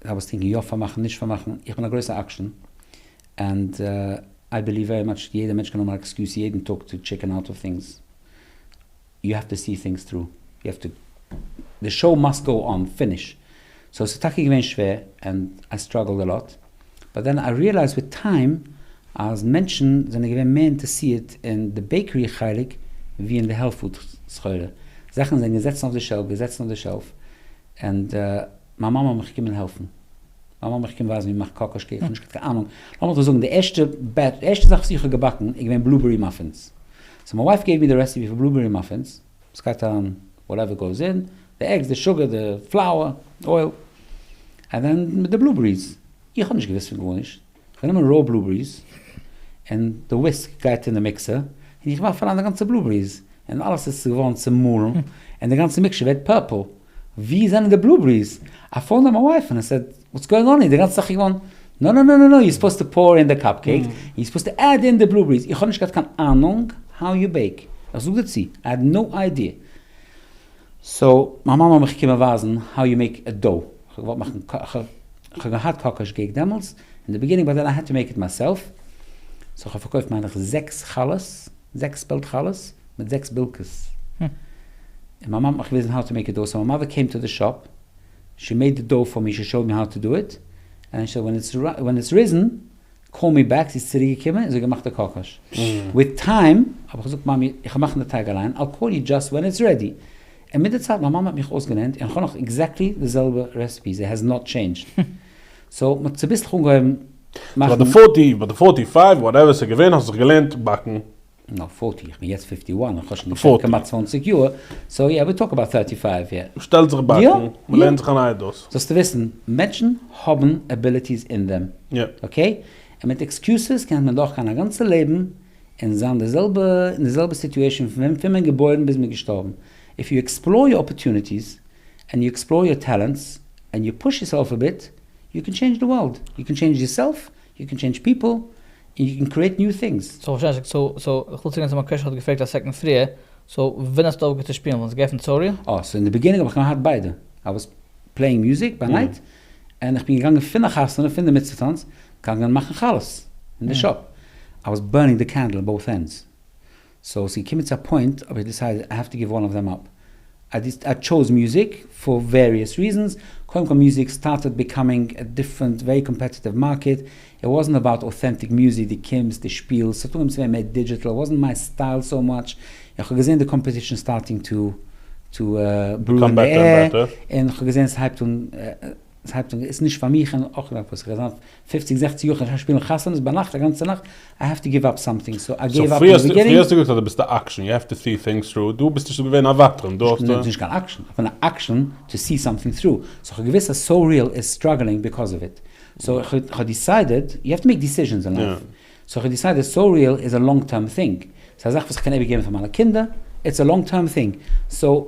זיי וואס טינקן יא פארמאכן נישט פארמאכן, איך בין א גרויסע אקשן ענד איי בעליוו ווערי מאטש יעדע מענטש קען האבן א עקסקיוז יעדן טאג טו טשיקן אוט אוו טינגס, יו העוו טו סי טינגס טרו, יו העוו טו, די שאו מאסט גאו אן, פיניש, סאו ס'איז טאקע געווען שווער ענד איי סטראגעלד א לאט, באט דען איי ריעלייזד וויט טיים אז מענטשן זענען געווען מער אינטערסירט אין די בעיקערי חלק ווי אין די העלט פוד סחורה, זאכן זענען געזעצן אויף די שעלף געזעצן אויף די שעלף ענד. מיין מאמע האט מיך געקומען העלפן. מיין מאמע האט מיך געקומען ווייזן ווי מ'מאכט קאקאשקע, איך האב נישט געהאט קיין אהנונג. לאמיר דאך זאגן די ערשטע בעטש, די ערשטע זאך וואס איך האב געבאקן איז געווען בלובערי מאפינס. סאו מיין ווייף געבט מיר די רעסעפי פאר בלובערי מאפינס. ס'גייט אריין וואטעווער גאוס אין, די עגס, די שוגער, די פלאוער, די אויל, ענד דען מיט די בלובעריס. איך האב נישט געוואוסט פון גארנישט. איך נעם ראו בלובעריס, און די וויסק גייט אין די מיקסער, און איך ווארף אריין די גאנצע בלובעריס, און אלעס איז געווארן צומאלן, און די גאנצע מיקשער ווערט פורפל. ווי זענען די בלובעריס? א פאון נאמבער אוועי פון עס, וואטס גאוינג אן היער, די גאנצע זאך איז געווארן, נא נא נא נא נא, יו סופאוזד טו פאור אין די קאפ קעיקס, און יו סופאוזד טו עד אין די בלובעריס, איך האב נישט געהאט קיין אהנונג האו יו בעיק, איך זאג דיר צו, איי העד נא איידיע, סאו מיין מאמע האט מיך געקומען ווייזן האו יו מעיק א דאו, איך האב געוואלט מאכן קא, איך האב געהאט קאקאש געיק דעמאלטס, אין די ביגינינג, באט דען איי העד טו מעיק איט מיי סעלף, סאו איך האב פארקויפט מיינעך זעקס חלות, זעקס פעלד חלות. מיט זעקס בילקעס, און מיין מאמע האט מיך געוויזן האו טו מעיק א דאו, סאו מיין מאדער קעים טו די שאפ, שי מעיד די דאו פאר מי, שי שאוד מי האו טו דו איט, ענד שי סעד ווען איטס ריזען, קאל מי בעק, זי איז צוריק געקומען און זי האט געמאכט די קאקאש, וויט טיים האב איך געזאגט מאמי איך וועל מאכן די טייג אליין, איי קאל יו דזשאסט ווען איטס רעדי, און מיט די צייט מיין מאמע האט מיך אויסגעלערנט, און כ'האב נאך עקזעקטלי די זעלבע רעסעפי, זי העז נאט טשעינדזשד, סאו מ'האט צוביסלעך אנגעהויבן מאכן. ביי די פארטי, ביי די פארטי פייוו, וואטעווער ס'איז געווען, האסט זיך געלערנט באקן? און נאך פֿארטי, איך בין יעצט פֿיפֿטי וואן, איך האב שוין געשעפט כמעט צוואַנציק יאר, סאו יא, ווי טאלק אבאוט טערטי פייוו יער. מ'שטעלט זיך באקן, מ'לערנט זיך א נייע דאס. זאלסטו וויסן, מענטשן האבן עביליטיס אין דעם, אקעי? און מיט עקסקיוסעס קען מען דורכגיין א גאנצע לעבן און זיין די זעלבע, אין די זעלבע סיטועשאן פון פון מען געבוירן ביז מען געשטארבן. איף יו עקספלאר יור אפערטוניטיס, ענד יו עקספלאר יור טעלענטס, ענד יו פוש יורסעלף א ביט, יו קען טשעינדזש די ווארלד, יו קען טשעינדזש יורסעלף, יו קען טשעינדזש פיפל און יו קען קריעט ניו טינגס. סאו איך פארשטיי נישט, סאו סאו איך וויל צוגיין צו מיין קוועשאן וואס האט געפרעגט א סעקאנד פריער, סאו ווען האסטו אויפגעהערט צו שפילן? ווען ס'איז געעפנט סאורי? אה, סאו אין די ביגינינג האב איך געהאט ביידע, איי וואס פלעינג מיוזיק ביי נייט, און איך בין געגאנגען פון א חתונה, פון די מצוה טאנץ, געגאנגען מאכן חלות אין די שאפ, איי וואס בורנינג די קענדל אין באות ענדס. סאו ס'איז געקומען צו א פוינט האב איך דיסיידעד איי העוו טו גיוו אלל אוו דעם אפ. איי טשאוז מוזיק פאר וועריעס ריזענס, קודם כל מוזיק סטארטעד ביקאמינג א דיפרענט ווערי קאמפעטיטיוו מארקעט, איט וואזענט אבאוט אוטענטיק מוזיק, די קומסט, די שפילסט, ס'האט אנגעהויבן צו ווערן מער דידזשיטעל, וואזענט מיי סטייל סאו מאטש, און כ'האב געזען די קאמפעטישן סטארטינג טו טו ברו אין די עיר, און כ'האב געזען ס'הייבט אן, ס'הייבט אן, ס'איז נישט פאר מיך, און אויך נאך וואס כ'האב געזען אויף. פופציג זעכציג יאר כ'קען שוין שפילן חתונות ביינאכט א גאנצע נאכט, איי העוו טו גיוו אפ סאמטינג, סאו איי געיוו אפ און וויגערינג. פריער האסטו געזאגט אז דו ביסט א עקשן, יו העוו טו סי טינגס טרו, דא ביסטו שוין געווען א וותרן, דא האסטו. איך בין נישט קיין עקשן, איך בין א עקשן טו סי סאמטינג טרו, סאו כ'האב געוויסט אז סאו ריעל איז סטראגלינג ביקאוז אוו איט, סאו כ'האב דיסיידעד, יו העוו טו מעיק דיסיזשענס אין לייף, סאו כ'האב דיסיידעד סאו ריעל איז א לאנג טערם טינג, ס'איז א זאך וואס כ'קען איבערגעבן פאר מיינע קינדער, איטס א לאנג טערם טינג, סאו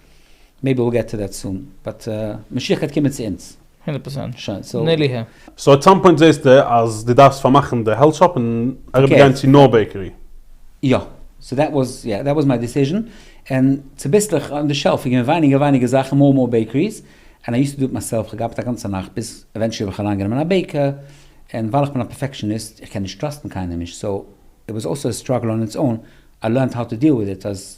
מעיבי וויל געט טו דעט סאן, באט משיח גייט קומען צו אונז. הונדערט פארצענט. שוין סאו. נעלי ה'. סאו עט סאם פוינט זעהסטו אז דו דארפסט פארמאכן די העלט שאפ און אריבערגיין צו נאר בעיקערי? יא. סאו דעט וואס יא דעט וואס מיי דיסיזשען און צוביסלעך אן די שעלף איז געווען ווייניגער ווייניגער זאכן מאר מאר בעיקעריס און איי יוסט טו דו איט מיי סעלף כ'האב געארבעט א גאנצע נאכט ביז עווענטשעלי האב איך אליין גענומען א בעיקער און ווייל איך בין א פערפעקשעניסט איך קען נישט טראסטן קיינעם נישט סאו איט וואס אלסא א סטראגל אן איטס און איי לערנט האו טו דיעל וויט איט אז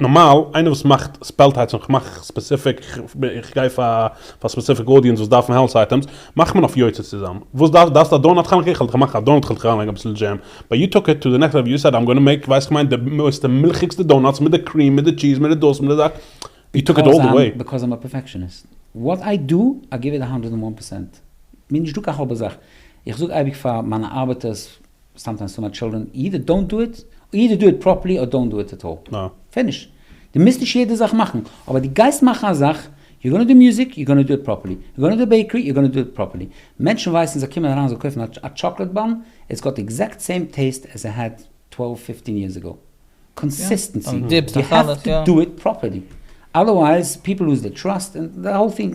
נארמאל איינער וואס מאכט ספעל טייטס און כ'מאך ספעסיפיק איך גיי פאר ספעסיפיק אודיענס וואס דארפן העלטס אייטעמס מאכט מען אויף יוצא צוזאם וואס דארפסט דארפסט א דאונאט כאניק איך האלט איך מאך א דאונאט כ'האלט איך אריינלייגן אביסל דזשעם באט יו טוק איט טו די נעקסט לעוועל יו סעד איים גאנא מעיק ווייסט כ'מיין די מערסטע מילכיגסטע דאונאטס מיט די קריעם מיט די טשיז מיט די דאס מיט די דאס יו טוק איט אלל די וועי. ביקאוז איים א פערפעקשעניסט וואט איי דא איי גיוו איט א האנדרעד ענד וואן פערסענט. מיר איז נישטא קיין חאבע זאך איך זאג אייביג פאר מיינע ארבעטערס סאמטיימס טו מאטש טשילדרען, אידער דאונט דו איט, אידער דו איט פראפערלי אר דאונט דו איט עט אלל. פיניש. דו מוזט נישט יעדע זאך מאכן, אבער דו גייסט מאכן א זאך, יו גאנא דו מוזיק, יו גאנא דו איט פראפערלי, יו גאנא דו בעיקערי, יו גאנא דו איט פראפערלי. מענטשן ווייסן, זיי קומען אריין זיי קויפן א טשאקלעד באן, איטס גאט עקזעקט סעים טעיסט עס איט העד טוועלוו פיפטין יערס אגאו. קאנסיסטענסי, יו העוו טו דו איט פראפערלי. אדערווייז פיפל לוז דער טראסט און די האול טינג.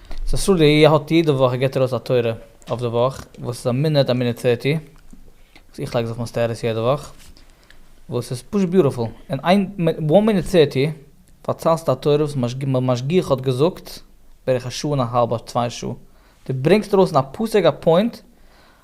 סאסולי האט יעדע וואך ער געט ארויס א תורה אויף די וואך וואס איז א מינוט א מינוט טערטי וואס איך לייג זיך מסתער'ס יעדע וואך וואס איז פשוט ביוטיפול אין איין וואן מינוט טערטי פארציילסטו א תורה וואס די משגיח האט געזאגט בערך א שעה און א האלב אדער צוויי שעה די ברענגסט ארויס אין א פאר סעק א פוינט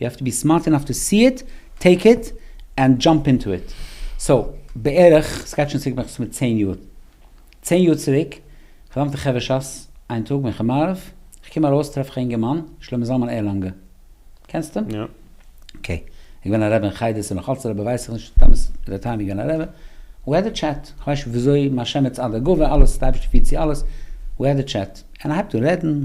יו האוו טו בי סמארט אינאף טו סי איט, טעיק איט, ענד דזשאמפ אינטו איט. סאו, בערך, סגייט שוין צוריק בערך מסתמא צען יאר, צען יאר צוריק, פארדאמטע חברה שס, איין טאג מנחה מעריב, כ'קום ארויס טרעף איך א אינגערמאן, שלמה זלמן ערלאנגער. קענסטו אים? יא. אקעי. ער געווען א רבי אין חדר, ס'איז נאכאלץ א רבי ווייסעך נישט טאמעס ער האט טענה'ט געווען א רבי. ווי האד א טשעט, כ'ווייס נישט וויאזוי מהשם יצאה די גאוה, אלעס, די אייבערשטער פירט צו אלעס, ווי האד א טשעט. און ער הייבט אן רעדן.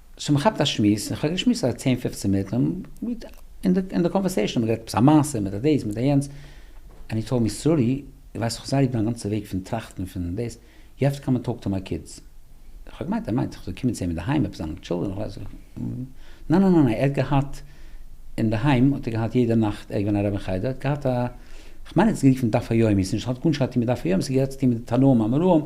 סאו מען כאפט א שמועס, איך האב געשמועסט א צען פופצען מינוט, און אין די קאנווערסעישאן האט מען גערעדט עפעס א מעשה מיט א דאס מיט א יענץ, ענד הי טאלד מי סארי, איך ווייס איך האב זיך אריבער מיין גאנצע וועג פון טראכטן פון דאס, יו העוו טו קאם ענד טאלק טו מיי קידס. איך האב געמיינט ער מיינט איך זאל קומען צו אים אינדערהיים עפעס זיינע טשילדרען איך ווייס נישט, ניין ניין ניין ער האט געהאט אינדערהיים האט ער געהאט יעדע נאכט ער איז געווען א רב אין חדר ער האט געהאט א, איך מיין ער האט עס גערופן דף היומי, ס'נישט ס'האט גארנישט געהאט צו טון מיט דף היומי, ס'האט געהאט צו טון מיט די תנאים האמוראים,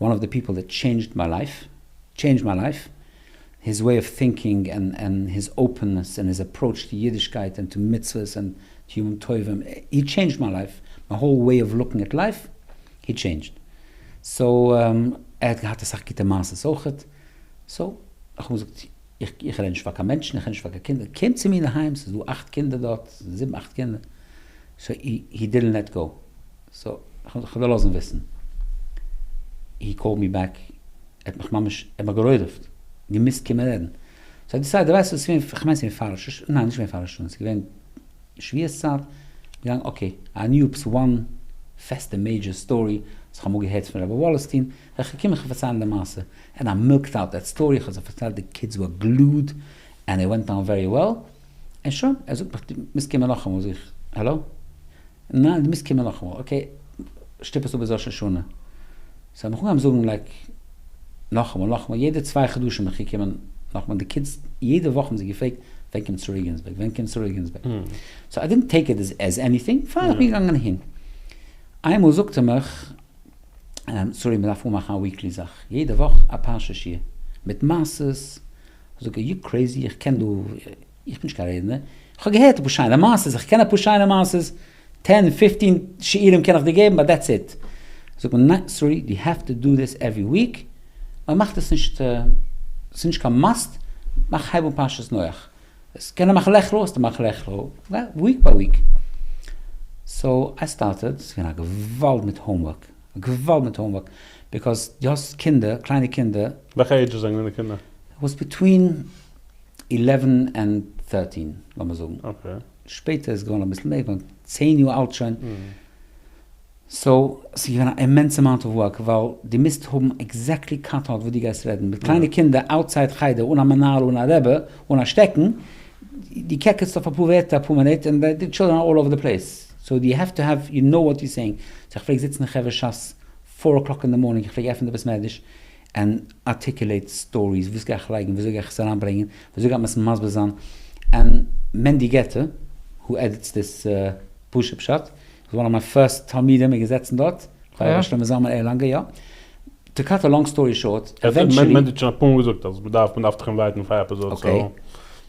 וואן אוו די פיפל דעט טשעינדזשד מיי לייף, טשעינדזשד מיי לייף, היז וועי אוו טינקינג ענד ענד היז אפענעס ענד היז עפראוטש טו אידישקייט ענד טו מצוות ענד טו ימים טובים, הי טשעינדזשד מיי לייף, מיי האול וועי אוו לוקינג עט לייף, הי טשעינדזשד. סאו ער האט געהאט אסאך גוטע מעשות אויכעט, סאו איך האב אים געזאגט איך רעד נישט פאר קיין מענטשן, איך רעד נישט פאר קיין קינדער, קום צו מיר אינדערהיים, ס'איז דא אכט קינדער דארט, זיבן אכט קינדער, סאו הי דידענט לעט גאו, סאו כ'וועל לאזן וויסן. הי קאלד מי בעק, ער האט מיך ממש, ער האט מיך גערוירעוועט, געמוזט קומען רעדן. סאו איך דיסייד, ווייסט וואס, כ'מיין ס'איז געווען פאר ראש השנה, ניין נישט געווען פאר ראש השנה, ס'איז געווען שביעית צייט, געגאנגען אקעי, א ניו אופס וואן פעסטע מעידזשער סטארי וואס כ'האב אמאל געהערט פון רבי וואלעסטין, בין איך געקומען כ'וועל פארציילן די מעשה, ער האט מיך מילקט אוט דעט סטארי, כ'האב זיי פארציילט די קידס ווער גלואד, ענד איט ווענט אן ווערי וועל. און שוין, ער זאגט מיך דו מוזט קומען נאכאמאל, זאג איך האלא? ניין דו מוזט קומען נאכאמאל, אקעי שטופ עס אפ ביז ראש השנה, סאו האב מיך אנגעהויבן זאגן לייק נאכאמאל נאכאמאל, יעדע צוויי חדשים מיך געקומען נאכאמאל, די קידס יעדע וואך האבן זיי געפרעגט ווען קומט שרי גינזבערג, ווען קומט שרי גינזבערג, סאו איי דידנט טעיק איט עז עניטינג, פיין איך בין געגאנגען אהין, איינמאל זאגט ער מיך סארי מען דארף אנמאכן א וויקלי זאך, יעדע וואך א פרשה שיעור, מיט מעשות, זאג אר יו קרעיזי? איך קען דו איך בין נישט קיין רעדנער, איך האב געהערט אפאר שיינע מעשות, איך קען אפאר שיינע מעשות, טען פיפטין שיעורים קען איך דיר געבן באט דעטס איט, זאגט מען ניין סארי דו העוו טו דא דיס עווערי וויק, מען מאכט עס נישט ס'איז נישט קיין מאסט, מאך הייב אן פרשת נח, עס קען מאכן לעכער האסטו געמאכט לעכער וויק ביי וויק, סאו איי סטארטעד, ס'איז געווען א געוואלד מיט האומווארק. געוואלד מיט האומווארק ביקאוז דו האסט קינדער, קליינע קינדער. וועלכע עידזש זענען די קינדער? וואס ביטווין עלעווען ענד טערטין לאמיר זאגן. אקעי. שפעטער איז געווארן אביסל מער געווארן צען יאר אלט שוין. סאו ס'איז געווען א אימענס אמאונט אוו ווארק ווייל דו מוזט האבן עקזעקטלי קאנטאקט וואס דו גייסט רעדן. מיט קליינע קינדער אוטסייד חדר אן א מנהל אן א רבי אן א שטעקן, דו קעקעצט אויף אפאר ווערטער אפאר מינוט און די טשילדרען אר אלל אווער די פלעיס. סאו די העוו טו העוו יו נאו וואט יו סעינג, סאו איך פלעג זיצן אין חברה שס פאר אקלאק אין די מארנינג, איך פלעג עפענען די בית מדרש ענד ארטיקולעיט סטאריס, וואס גיי איך לייגן, וויאזוי גיי איך עס אריינברענגן, וויאזוי גייט מען עס מסביר זיין, און מענדי געטער who edits this פרשה פשט איז וואן אוו מיי פירסט תלמידים, מיר געזעצן דארט, כולל ר' שלמה זלמן ערלאנגער, יא. טו קאט א לאנג סטארי שארט, עווענטשעלי. מענדי האט שוין אפאר מאל געזאגט אז מען דארף מען דארף דיך אינווייטן פאר א עפיזאד, סאו. אקעי,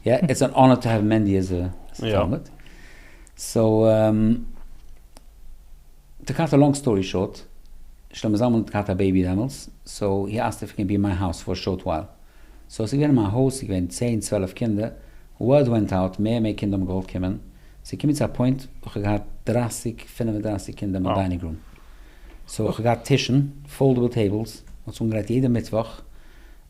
יא, איטס אן אנער טו העוו מענדי עז א תלמיד. סאו טו קאט א לאנג סטארי שארט, שלמה זלמן האט געהאט א בעיבי דעמאלס, סאו הי אסקט איף הי קען בי אין מיי האוז פאר א שארט ווייל. סאו ס'איז געווען אין מיין הויז, ס'איז געווען צען צוועלף קינדער, ווארד ווענט אוט, מער און מער קינדער האבן געוואלט קומען, ס'איז געקומען צו א פוינט וואס כ'האב געהאט דרײַסיק פֿינף און דרײַסיק קינדער אין מיין דיינינג רום. סאו כ'האב געהאט טישן, פאלדעבל טעיבלס, מ'האט זיך אנגעלייגט יעדע מיטוואך,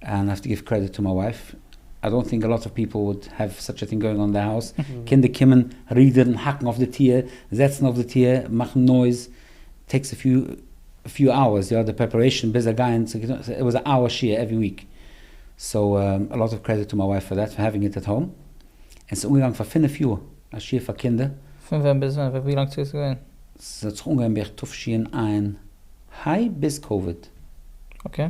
אנד האב טו גיוו קרעדיט טו מיי ווייף, איי דאנט טינק אלאט אוו פיפל וואלד העוו סאטש א טינג גאוינג אן אין די האוז, קינדער קומען, רודערן, האקן אויף די טיר, זעצן אויף די טיר, מאכן נויז, טעיקס א פיו פיו אווערס, יא די פרעפערעישן ביז זיי גייען, סאו איט וואזע אן אווער שיעור עווערי וויק, סאו אלאט אוו קרעדיט טו מיי ווייף פאר דעט פאר העווינג איט עט האום, און ס'איז אנגעגאנגען פאר פֿינף יאר א שיעור פאר קינדער. פון ווען ביז ווען? ווי לאנג צוריק איז געווען? ס'האט זיך אנגעהויבן בערך תשע ע, היי ביז קאוויד. אקעי.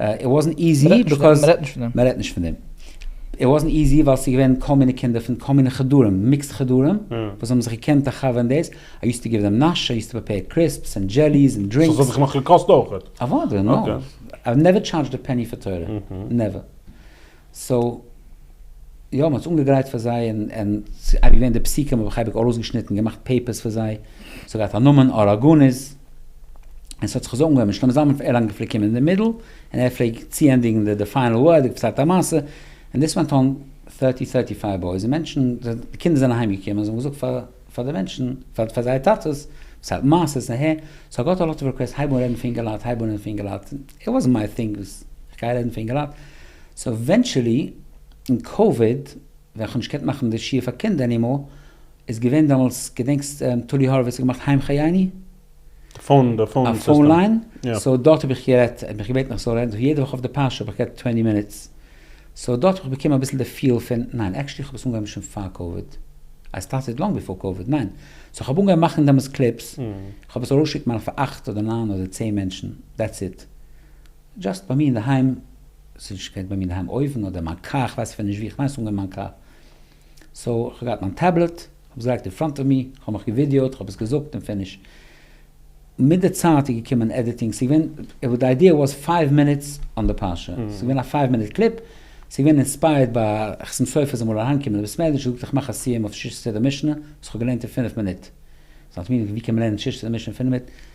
איט וואזנט איזי ביקאוז מ'רעדט נישט פון דעם. איט וואזנט איזי ווייל ס'איז געווען כל מיני קינדער פון כל מיני חדרים, מיקסד חדרים, וואס האבן זיך געקענט א חבר און דאס, איי יוזט טו גיוו דעם נאש, איי יוזט טו פרעפעיר קריספס און דזשעליס און דרינקס. סאו ס'האט זיך נאך געקאסט אויכעט. אוודאי, נאו. איי נעווער טשארדזשד א פעני פאר תורה. נעווער. סאו יא, מען האט עס אנגעגרייט פאר זיי און און ס'איז אייביג געווען די פסוקים האב איך אייביג ארויסגעשניטן געמאכט פעיפערס פאר זיי, ס'האט געהאט א נאמען אראגאניס, און ס'האט זיך אזוי אנגעהויבן, שלמה זלמן פון ערלאנגען פלעגט קומען אין די מידל און ער פלעגט צוענדיגן די די פיינעל ווארד, ער האט געציילט א מעשה, און דאס ווענט אן thirty thirty five בויזע מענטשן, די קינדער זענען אהיימגעקומען זיי האבן געזאגט פאר. פאר די מענטשן, פאר פאר זייער טאטעס, ס ה מעשה ס ה, סאו גאט אלאטס ריקוועסט הייב אן רעדן פון אינגעלייט, הייב אן רעדן פון אינגעלייט, איט וואזנט מיי טינג וואס כ'גיי רעדן פון אינגעלייט, סאו עווענטשעלי אין קאוויד ווען כ'האב נישט געקענט מאכן די שיעור פאר קינדער ענימאר, איז געווען דעמאלטס, געדענקסט טולי האראוויץ האט געמאכט היים חייני? א פאון ליין, סאו דארט האב איך גערעדט, ער האט מיך געבעטן איך זאל רעדן, סאו יעדע וואך אויף די פרשה האב איך גערעדט טווענטי מינוטס, סאו דארט האב איך באקומען אביסל די פיל פון, ניין, עקשעלי כ'האב עס אנגעהויבן שוין פאר קאוויד, איי סטארטעד לאנג ביפאר קאוויד, ניין, סאו כ'האב אנגעהויבן מאכן דעמאלטס קליפס, כ'האב עס ארויסגעשיקט מיינע פאר אכט אדער ניין אדער צען מענטשן, דעטס איט, דזשאסט ביי מיר אינדערהיים, ס'איז נישט געווען ביי מיר אינדערהיים, אויבן אדער אין מיין קאר, כ'ווייס אפילו נישט ווי, כ'מיין ס'איז אנגעהויבן אין מיין קאר. סאו איך האב געהאט מיין טעבלעט, כ'האב עס געלייגט אין פראנט אוו מי, כ'האב מיך געווידעא'ט, כ'האב עס געזאגט און פיניש. מיט די צייט איז געקומען עדיטינג, ס'איז געווען, די איידיע וואס פייוו מינוטס אן די פרשה, ס'איז געווען א פייוו מינוט קליפ, ס'איז געווען אינספייערד ביי חתן סופר זאל מאל אריינקומען לבית מדרש, ער זאגט איך מאך א סיום אויף שש סדר משנה וואס כ'האב געלערנט אין פינף מינוט. ס'האט מיר געוואונדערט ווי קען מען לערנען שש סדר משנה אין פינף מינוט,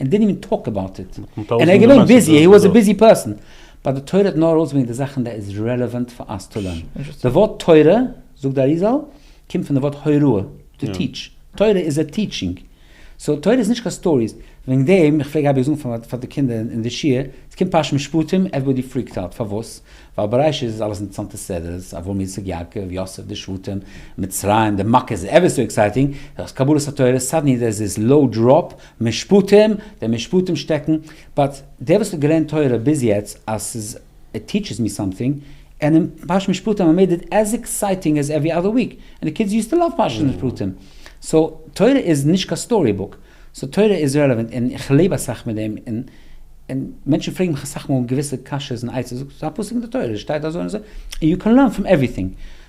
ענד דידנט איווען טאלק אבאוט איט, און ער איז געווען ביזי, הי וואס א ביזי פערסאן, באט די תורה האט נאר ארויסגעברענגט די זאכן דער איז רעלעווענט פאר אס צו לערנען, די ווארט תורה, זאגט די אריזל, קומט פון די ווארט הוראה, טו טיטש, תורה איז א טיטשינג, סאו תורה איז נישט קיין סטאריס, וועגן דעם איך פלעג אייביג זאגן פאר די קינדער אין די שיעור, עס קומט פרשת משפטים, עוועריבאדי פריקט אוט, פארוואס? ווייל בראשית איז אלעס אינטערסאנטע סדרה'ס, אברהם יצחק יעקב יוסף די שבטים, מצרים די מכות, עווער סאו עקסייטינג, דאס קבלת התורה, סאדענלי דער איז לואו דראפ, משפטים, די משפטים שטעקן, באט דער וואס האט געלערנט תורה ביז יעצט אז ס'איז איט טיטשעס מי סאמטינג, ענד אין פרשת משפטים האמיר איט עז עקסייטינג עז עווערי אדער וויק, ענד די קידס יוז טו לאוו פרשת משפטים, סאו תורה איז נישט קיין סטארי בוק, סאו תורה איז רעלעווענט און איך לעב אסאך מיט דעם, און און מענטשן פרעגן מיך אסאך מאל געוויסע קשיות און עצות, זאגט ס'איז א פסוק אין די תורה, עס שטייט אזוי און אזוי, און יו קען לערן פראם עווריטינג,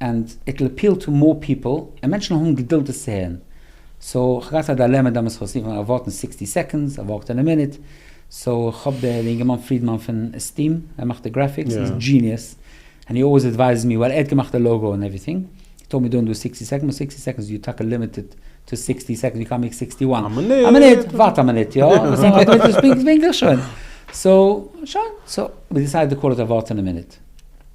ענד איט וויל אפיעל טו מאר פיפעל, און מענטשן האבן געדולד דאס צו הערן, סאו איך האב געהאט א דילעמע דעמאלטס איך האב עס אנגעהויבן אוואוטן סיקסטי סעקאנדס אוואוט אין א מינוט, סאו איך האב די אינגערמאן פרידמאן פון עסטים ער מאכט די גרעפיקס איז דזשיניעס, ענד הי אלוועיס עדווייזעס מי ווייל ער האט געמאכט די לאגא און עווריטינג, הי טאלד מי דאנט דא סיקסטי סעקאנדס באט סיקסטי סעקאנדס איז יו טאקע לימיטעד טו סיקסטי סעקאנדס יו קען מעיק סיקסטי וואן א מינוט וואט א מינוט יא פונקטליך שוין סאו שוין סאו ווי דיסיידעד טו קאל איט אוואוט אין א מינוט.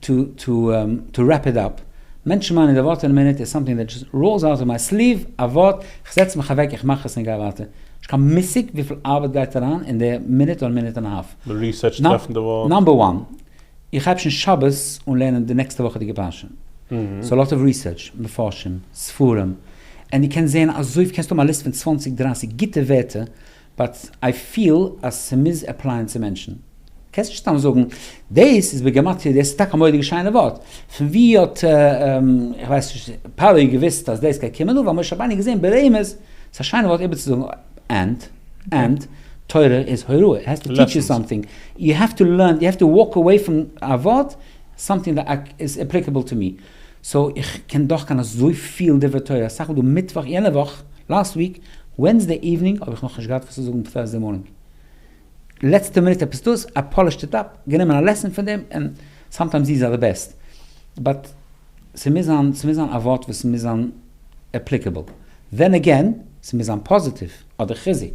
טא טא טא רעפ איט אפ, מענטשן מיינען די ווארט אין א מינוט איז סאמטינג דעט דזשאסט ראולס אוט אוו מיי סליוו, א ווארט, איך זעץ מיך אוועק, איך מאך עס און גיי ווייטער. נישט קיין מושג וויפיל ארבעט גייט אריין אין די מינוט אדער מינוט און א האלף. די ריסערטש טרעפן די ווארט. נאמבער וואן, איך הייב שוין שבת אן לערנען די נעקסטע וואכעדיגע פרשה. סאו לאט אוו ריסערטש, מפרשים, ספרים, ענד דו קענסט זען אזויפ קענסט האבן א ליסט פון צוואנציג דרייסיג גוטע ווערטער באט איי פיל אז ס'מוז עפלייען צו מענטשן. קענסט נישט סתם זאגן דאס איז בגמטריא דאס איז טאקע א מורא'דיגע שיינע ווארט. פון ווי האט איך ווייס נישט פרעה געוואוסט אז דאס גייט קומען? אוואו האט משה רבינו געזען ברעמעס? ס'איז א שיינע ווארט איבערצוזאגן אנד אנד תורה איז הוראה איט העז טו טיטש יו סאמטינג יו העוו טו לערן יו העוו טו וואלק אוועי פון א ווארט סאמטינג דעט איז עפליקעבל טו מי סאו איך קען דאך קיין אזויפיל דברי תורה, א סך הכול מיטוואך יענע וואך, לאסט וויק, ווענסדעי איווענינג האב איך נאך נישט געהאט וואס צו זאגן טורסדעי מארנינג, לעצטע מינוט עפעס דאס, א פאלישט איט אפ, גענומען א לעסן פון דעם, ענד סאמטיימס דיז אר די בעסט, באט ס'מוז זיין, ס'מוז זיין א ווארט וואס מוז זיין עפליקעבל, דען עגעין, ס'מוז זיין פאזיטיוו. אדער חיזוק.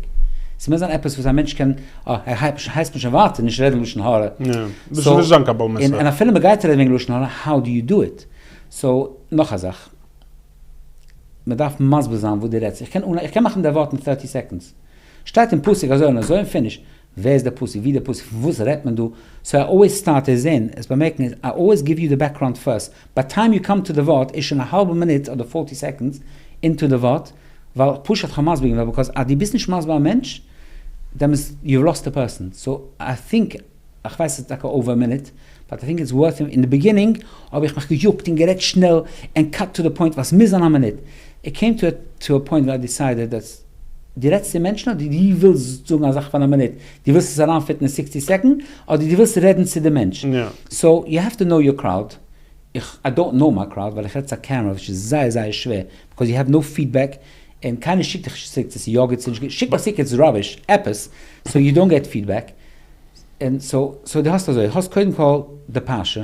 ס'מוז זיין עפעס וואס א מענטש קען, אה, ער הייסט מיר שוין ווייטער נישט רעדן לשון הרע. יא, דאס איז נישט זיין קבול מסר. און אפילו מען גייט רעדן וועגן לשון הרע, האו דו יו דו איט? סאו, נאך א זאך. מען דארף מסביר זיין וואס דו רעדסט. איך קען מאכן די ווארט אין thirty סעקאנדס. שטייט אין פסוק אזוי און אזוי און פיניש. ווער איז דער פאסיוו? ווי דער פאסיוו? פון וואס רעדט מען דא? סאו איי אלוועיס סטארט עס אין עס באמערקן איז איי אלוועיס גיוו יו די בעקראונד פירסט ביי טיים יו קאם טו די ווארט איז שוין א האלבע מינוט אדער פארטי סעקאנדס אינטו די ווארט ווייל פשוט כ'האב מסביר געווען ביקאוז אז דו ביסט נישט מסביר א מענטש דעמאלס יו האב לאסט די פערסאן סאו איי טינק כ'ווייס ס'איז טאקע אויווער א מינוט באט איי טינק איטס ווארט אין די ביגינינג האב איך מיך געיאגט און גערעדט שנעל און קאט טו די פוינט ווייל ס'מוז זיין א מינוט איט קעים טו א פוינט ווען איי דיסיידעד אז דו רעדסט צו מענטשן אדער דו ווילסט זאגן א זאך פאר א מינוט, דו ווילסט עס אריינפיטן אין סיקסטי סעקאנד, אדער דו ווילסט רעדן צו די מענטש. סאו יו העוו טו נאו יור קראוד. איך איי דאנט נאו מיי קראוד ווייל איך רעד צו א קעמרא וויטש איז זייער זייער שווער ביקאוז יו העוו נאו פידבעק און קיינער שיקט דיך נישט צוריק צו ס'איז יא גוט ס'איז נישט גוט שיק מיך צוריק איטס ראביש עפעס סאו יו דאנט געט פידבעק און סאו סאו דו האסט אזוי האסט קודם כל די פרשה.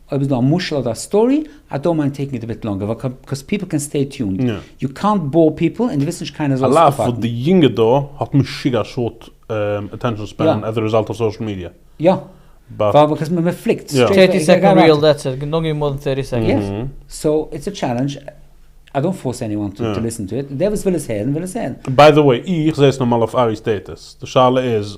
אויב איז דא א משל אדער א סטארי, איי דאנט מיינד טעיקינג איט אביט לאנגער, ווייל קאוז פיפל קען סטעי טיונד, יו קאנט באור פיפל, און דו ווילסט נישט קיינער זאל עס אפהאקן. על אף וואס די יונגע דור האט משוגע א שארט אטענשאן ספען עז א רעזאלט אוו סאשעל מידיא. יא. ווייל קאוז מען פליקט. טערטי סעקאנד ריעל דעטס איט, נאט גיווינג מאר דען טערטי סעקאנדס. יא. סאו איטס א טשעלענדזש, איי דאנט פארס עניוואן טו ליסען טו איט, דער וואס וויל עס הערן וויל עס הערן. ביי דע וועי, איך זעה עס נארמאל אויף ארי'ס סטעטוס, די שאלה איז.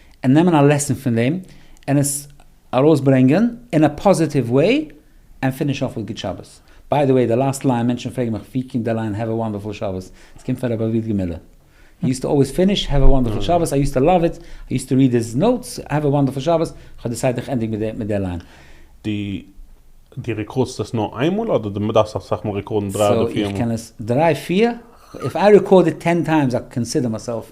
און נעמען א לעסן פון דעם און עס ארויסברענגען אין א פאזיטיוו וועי און פיניש אףף וויט גוט שבת. ביי די וועי די לאסט ליין מענטשן פרעגן מיך ווי קומט די ליין העוו א וואנדערפול שבת עס קומט פון ר' אביעד געמילער הי יוזט טו אלוועיס פיניש העוו א וואנדערפול שבת איי יוזט טו לאוו איט איי יוזט טו ריעד היז נאוטס העוו א וואנדערפול שבת איך האב דיסיידט איך ענדיג מיט די ליין. די רעקארדסט עס נאר איינמאל אדער די דארפסט אסאך מאל רעקארדן דרײַ אדער פֿיר מאל? סאו איך קען עס דריי פיר, איף איי רעקארד איט טען טיימס איי קאנסידער מיי סעלף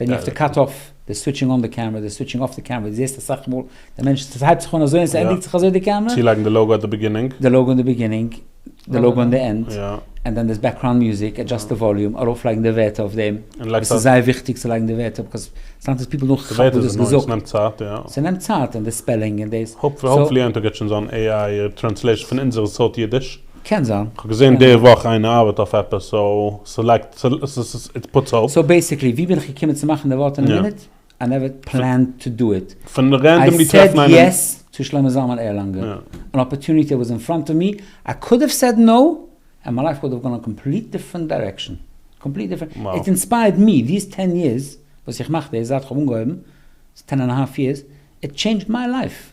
ווען יו האוו טו קאט אףף די סוויטשינג אן די קעמרע די סוויטשינג אףף די קעמרע די זעהסט אסאך מאל די מענטש עס הייבט זיך אן אזוי און עס ענדיגט זיך אזוי די קעמרע. צולייגן די לאוגא אט די ביגינינג. די לאוגא און די ביגינינג. די לאוגא און די ענד. און דאן דאס בעקראונד מיוזיק עדזשאסט די וואליום ארויף לייגן די ווערטער אויף דעם. עס איז זייער וויכטיג צו לייגן די ווערטער בקאז סאמטיימס פיפל דאנט כאפן וואס די האסט געזאגט. ס'נעמט צייט יא. ס'נעמט צייט און די ספעלינג און דאס. האפפולי יום טוב געט שוין זיין עי איי טרענסלעישן פון אונזער סארט אידיש. קען זיין. כ'האב געזען די וואך איין ארבעט אויף עפעס סאו סעלעקט איט פוטס אפ. סאו בעיסיקלי ווי בין איך געקומען צו מאכן די ווארט אין א מינוט? איי נעווער פלענד טו דו איט. פון רענדאמלי טרעפן איינעם. איי סעד יעס צו שלמה זלמן ערלאנגער. אן אפערטוניטי וואס אין פראנט אוו מי, איי קוד האוו סעד נאו, ענד מיי לייף וואלד האוו גאן און קאמפליט דיפרענט דיירעקשאן. קאמפליט דיפרענט. איט אינספייערד מי, דיס טען יערס וואס איך מאך דאס זייט כ'האב אנגעהויבן, טען ענד א האלף יערס, איט טשעינדזשד מיי לייף.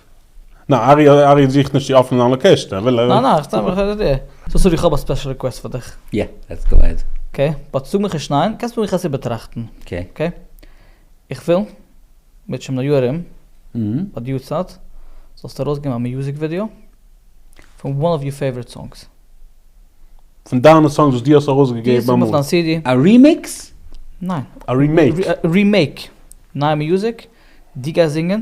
ניין, ארי ארי זוכט נישט צו אפענען זיין לאקעשן, ער וויל. ניין ניין, סתם איך ר. סאו סארי כ'האב א ספעשל ריקוועסט פאר דיך. יא, לעטס גאו עהעד. אקעי, באט זאג מיך נישט ניין, קענסט מיך עס איבערטראכטן. אקעי. איך וויל, מיט שום ניו יאר ארום, ביי די יארצייט, זאלסטו ארויסגעבן א מיוזיק ווידיאו, פון וואן אוו יור פעיוואריט סאנגס. פון דיינע סאנגס וואס דו האסט ארויסגעגעבן אמאל. אויף דיין סידי. א רימיקס? ניין. א רימעיק. רימעיק. נייע מיוזיק, דו גייסט זינגען.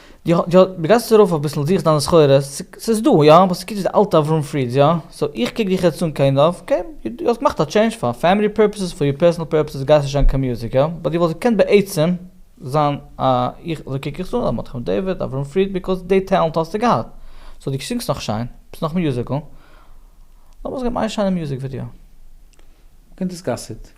די די די גייסט ארויף אביסל זוכסט דיינע סחורות, ס'איז דא יא, אבער ס'קוקט אויס די אלטע אברהם פרידס יא, סאו איך קוק דיך יעצט אן קיינד אף, אקעי, דו האסט געמאכט א טשעינדזש פאר פעמילי פורפעסעס, פאר יור פערסענעל פורפעסעס גייסט נישט זיין קיין מוזיק יא, באט דו וואלסט געקענט בעצם זיין א, איך, אזוי קוק איך עס אן, א מרדכי דוד, אברהם פריד, ביקאוז די טעלענט האסטו געהאט, סאו דו זינגסט נאך שיין, ביסט נאך מיוזיקעל, לאמיר זיך געבן איין שיינע מיוזיק ווידיאו. קענט עס קאסעט.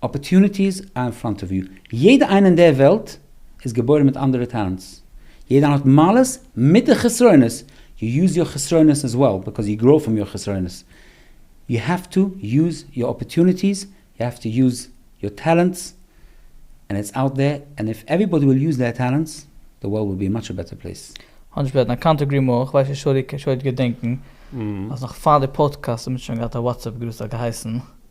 אפערטוניטיס אר אין פראנט אוו יו. יעדע איינע אין דער וועלט איז געבוירן מיט אנדערע טעלענטס. יעדע איינע האט מעלות מיט די חסרונות. יו יוז יור חסרונות עז וועל ביקאוז יו גראו פראם יור חסרונות. יו העוו טו יוז יור אפערטוניטיס, יו העוו טו יוז יור טעלענטס, ענד איטס אוט דער, ענד איף עוועריבאדי וויל יוז דעיר טעלענטס, די וועלד וויל בי א מאטש בעטער פלעיס. האניש בעדן איי קאנט עגרי מאר, כ'ווייס נישט שוירי קען שוין געדענקן אז נאך פאר די פאדקעסט האט מען שוין געהאט א וואטסעפפ גרופ ס'האט געהייסן.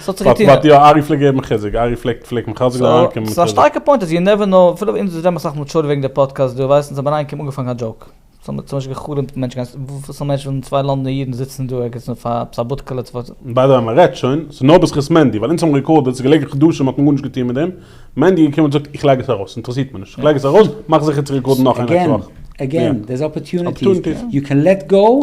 ס'האט יא, ארי פלעגט געבן חיזוק, ארי פלעגט פלעגט מחזק זיין אריין קומען מיט חיזוק. ס'איז א שטארקע פוינט, אז יו נעווער נאו, אפילו אונז וואס רעדן אסאך מיט שרי וועגן די פאדקעסט דא, ווייסן זיי ביינאיינקום אנגעפאנגען א דזשאוק, ס'האט מיר צום משל גע'חלומ'ט מענטש גיין, וואס א מענטש ווילן צוויי לאנדענע אידן זיצן דא ערגעץ און פאר עפעס א בודקעלע צו פאר. ביי די וועי מ'רעדט שוין, ס'איז נאר בזכות מענדי, ווייל אונז האבן רעקארדעד, ס'איז געלעגן חדשים האט מען גארנישט געטון מיט דעם, מענדי איז געקומען און געזאגט איך לייג עס ארויס, אינטערעסירט מיר נישט, איך לייג עס ארויס, מאך זיכער צו רעקארדן נאך איינער קראכט. עגעין, עגעין, דער'ס אפערטוניטיס, יו קען לעט גאו,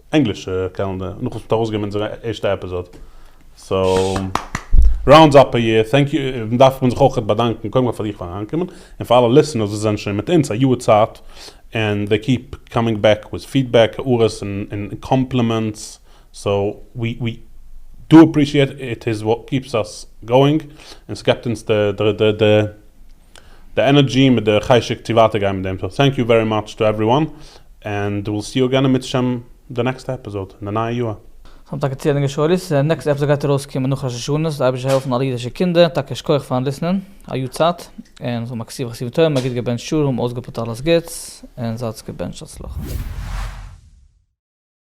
ענגלישע קעלענדער נאך וואס מ'האט ארויסגעגעבן אונזער ערשטע עפיזאד. סאו ראונדס אפ א יער. טענק יו, און דארף מען זיך אויך באדאנקען קודם כל פאר דיך פארן אריינקומען, און פאר אלע ליסטענערס וואס זענען שוין מיט אונז א יאר צייט, און זיי קיעפ קאמינג בעק וויט פידבעק, הערות און קאמפלימענטס, סאו ווי ווי דו עפרישיעט, איט איז וואט קיעפס אס גאואינג, און ס'געבט אונז די. די ענערדזשי מיט די חשק צו ווייטער גיין מיט דעם סאו טענק יו ווערי מאטש טו עווריוואן ענד וויל סי יו אגען עמיצער שם די נעקסטע עפיזאד אין די נייע יאהר. זיי האבן טאקע צעהליגע שורות, די נעקסטע עפיזאד גייט ארויס קומען נאך ראש השנה, זאל די אייבערשטער העלפן אלע אידישע קינדער, טאקע שכוח פארן ליסנען, א יאר צייט, און זאל מקציב חסידים טובים, א גוט געבענטשט יאר, האבן אויסגעפועלט אלעס גוטס, און זייטס געבענטשט הצלחה.